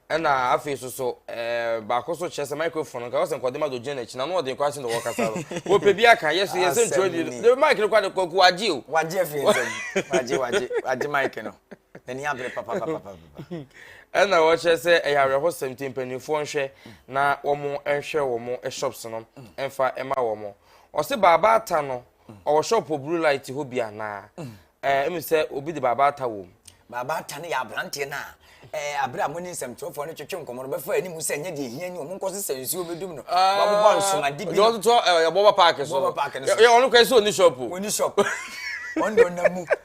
ɛna afei so so ɛɛ baako so kyerɛ sɛ microphone nka ɔsɛ nkɔde ma do gyina n'akyi na no ɔde nkɔ ahyɛ na ɔkasa no wɔpɛ bi aka yɛ so yɛ sɛ ntwerɛ bi no de mic no kɔ ade kɔ kɔ wagye o wagye afiri nsɛm wagye wagye wagye mic no Ani abere papapapapapa. Ɛna wɔkyerɛ sɛ ɛyɛ awerɛhosɛm nti mpanimfoɔ nhwɛ na wɔn nhwɛ wɔn shops no mfa ma wɔn. Ɔse baaba ata no ɔwɔ shop wɔ blue light hɔ bi anaa? Ɛɛ ɛmu sɛ obi de baaba ata wɔ mu. Baaba ata no yɛ aberanteɛ no a ɛɛ abere a mo ne nsɛmtwerɛfoɔ no twetwe nkɔmɔ no bɛfa anim sɛ nyɛ deɛ hia ni wɔn nkɔ sesa nsuo bɛdum no. Wɔabobɔ nsomade bi. Yɛ ɔtotɔ ɛɛ bɔbɔ paaki so. Bɔbɔ paaki no so. Yɛ ɔno kura sɛ ɔni shop o. Ɔni shop. Ɔno na ɔnam mu.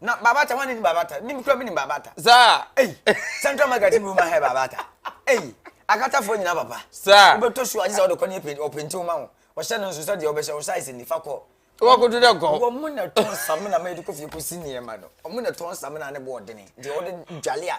Na Babata, wani ni Babata? Ni mkura mi ni Babata. Saa. Ei, Central Market mi ma hɛ Babata. Ei, akata fo nyina papa. Saa. Obe to shoe ajisa odo kwani epe openti uma ho. Ɔhyɛ no nso sɛ deɛ ɔbɛhyɛ wo size ni fa kɔ. Wa ko do dɛ gɔ. Wɔ mo na tɔn samina ma yɛde kɔ fie kɔ si nneɛma no. Ɔmo na tɔn samina ne boɔdene deɛ ɔde dwale a.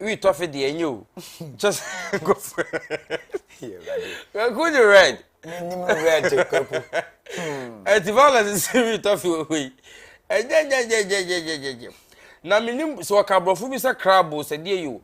wi tɔfe deɛ ɛnyɛ o kyɛ sɛ nkɔfo kwaku de red menim red kwaku ɛti violence sɛ wi tɔfe wɔ hɔ yi ɛgyɛgyɛgyɛgyɛgyɛgyɛgyɛ na menim sɛ wɔka aborɔfo bi sɛ crabo sɛ deɛ yi o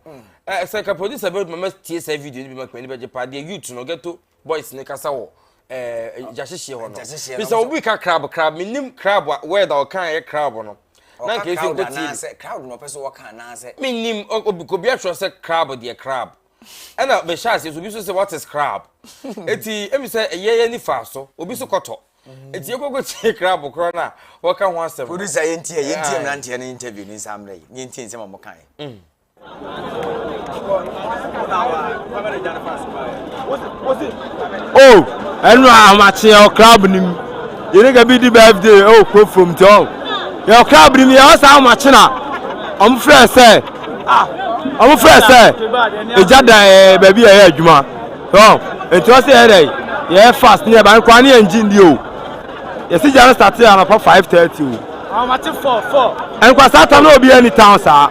sɛ ka producer bɛduma ma tie saa video no bi ma kmani bɛgye paa deɛ youth no ghetto boys ne kasa wɔ ɛɛ gyahyehyeɛ hɔ no Gyahyehyeɛ no, bisa obi ka crab crab menim crab a word a ɔka yɛ crab no na ɔka nka esi crowd nkɔ tie bi anaasɛ crowd na ɔpɛ sɛ wɔka anaasɛ menim o- obi obi atwerɛ sɛ crab deɛ crab ɛna mehyɛ aseɛ so obi so sɛ what is crab eti emi sɛ ɛyɛ yɛ nifa so obi so kɔtɔ eti ekoko tie crab korɔ no a wɔka ho asɛm no producer yɛntie yɛntie Aye. mmeranteɛ no interview no nsa mmerɛ yi ne yɛntie nsɛm a wɔkaeɛ o ɛnu ahomakye yɛ ɔkra abini mu yɛne ka bi di birthday ɛwɔ kuro fam nti ɔ yɛ ɔkra abini mu yɛ ɔsa ahomakye na wɔn frɛ sɛ wɔn frɛ sɛ egya da ɛɛ baabi yɛ yɛ adwuma ɔ nti ɔsɛ yɛ dɛ yɛ fast ne yɛ ba nkwa ne yɛ ngye ndi o yɛsi gya no start yɛ anapa five thirty o ahomakye fɔ fɔ nkwa saa tam na obi yɛ ni town saa.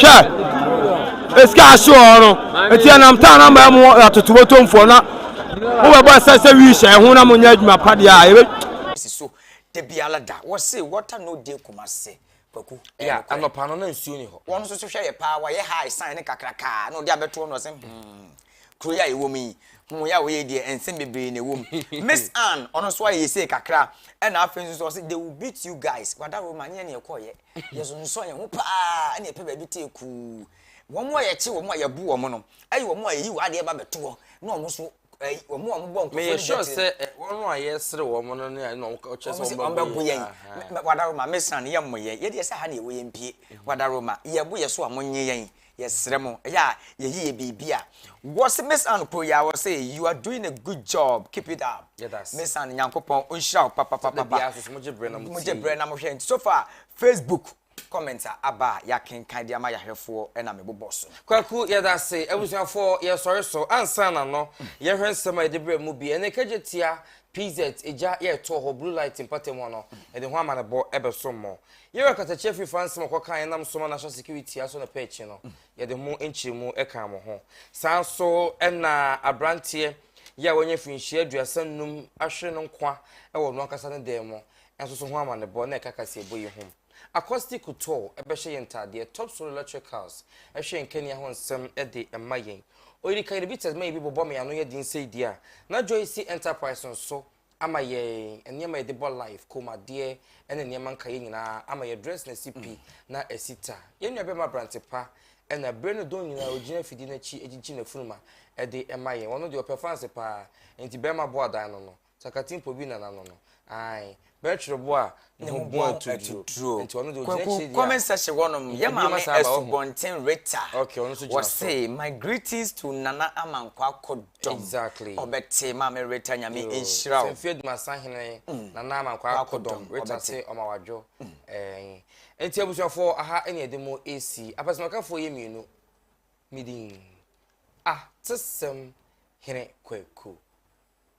Hwɛ! Esika ahye wɔn no, enti ɛnam taa na ama mu atoto botomfoɔ na mobɛbɔ ɛsɛ sɛ wii hyɛ ho na monyɛ adwuma pa deɛ a yɛbɛ si so da biara da. Wɔse water no day Kumasi. Kwaku, ɛyɛ nokorɛ. Yeah, anɔpa no na nsuo nni hɔ. Wɔn nso so hwɛ yɛ paa, wɔayɛ high sign no kakrakaa na ɔde abɛtoɔ no ɔse hmm, kuro yi a yɛwɔ mu yi, ho yɛ a wɔyɛ yi deɛ nsɛm bebree na ɛwɔ mu. Miss Ann, ɔno nso ayɛ yɛ sei kakra ɛna afei nso so ɔse they will beat you guys, Wada Roma nyɛ nea ɛkɔɔyɛ. Yɛsonsɔn yɛn ho pa ara na yɛpɛ baabi tee kuu. Wɔn a yɛkye wɔn a yɛbu wɔn no yɛ wɔn a yɛyi wɔn adeɛ ba bɛto hɔ na wɔn nso eh, wɔn a wɔbɔ nkurɔfoɔ Meyɛ no sure dwatire sɛ no. eh, wɔn a yɛsere wɔn no ne na wɔkyerɛ sɛ Wɔn se wɔn wɔbɛbo bɛbo yɛn. yɛn. Aha. Me- me- Wadaroma, mesra no, yɛmmɔ yɛn. Yɛdeɛ sɛ ha na yɛwɔ yɛmpie. Wadaroma, yɛbo yɛ so a monnye yɛn. Yɛsrɛ mo, ɛyɛ a yɛyi yɛ biribi a. Wɔse mesan kɔ yi a wɔse you are doing a good job keep it up mesan Nyankopɔn ɔnhyira wo papapapapa mogye brɛ na mohwɛ nti so far Facebook comment a aba a yɛakenkan de ama yɛahwɛfoɔ na mebobɔ so. Kwaku yɛdase abusuafoɔ yɛsɔre so ansa na no yɛhwɛ nsɛm a yɛde brɛ mu bi ɛne kagye tia PZ egya yɛɛtoo hɔ blue light mpɔtam hɔ no yɛde ho amanebɔ ɛbɛso mo Yɛwɛ katakyia firi fa nsɛm a ɔkɔkaa yɛn nam soma national security aso na pɛ akyi no, yɛde ho nkyerɛmu kaa mo ho. Saa nso na aberanteɛ yɛ a wanya mfirinhyia aduasa nnum ahwere no nkwa wɔ ɔno ankasa ne dan mu nso so ho amanebɔ na ɛka kaseɛbɔ yi ho. Acosti Couture bɛhyɛ yɛn ntaadeɛ, Top Solo Electricals hwɛ yɛn kanea ho nsɛm de ma yɛn. Oyirika Yɛde Bitters ma yɛn bi bobɔ me ano yɛ den sei deɛ a, na Joyce Enterprise nso ama yɛn nneɛma yɛde bɔ life, kɔnmuadeɛ ne nneɛma nkaeɛ nyinaa ama yɛ dress na ɛsi pi na ɛsi ta. Yɛn nua bɛma aberante pa na berɛ no dɔn nyinaa ɔgyina afidie no akyi gyigye n'afunuma de ma yɛn. Ɔno deɛ ɔpɛ fanse paa nti bɛma boa dan no no. Sakatimpo bi na n'ano no. Ae. Bɛtwere boa a ne ho bɔn atuturo. Kwaku kɔmɛnsa hyɛ hɔnom yɛ maame Asubɔnten Rita wɔse my greetings to Nana Amankwɔ Akodɔm ɔbɛte maame Rita nyame nhyira wo. Sɛmfie Dumasa hene mm. Nana Amankwɔ Akodɔm Rita se ɔma wadwo nti abusuafoɔ aha ɛne ɛde mo esi apɛsɛmakafoɔ yɛ mmienu midin atesɛm hene kwaku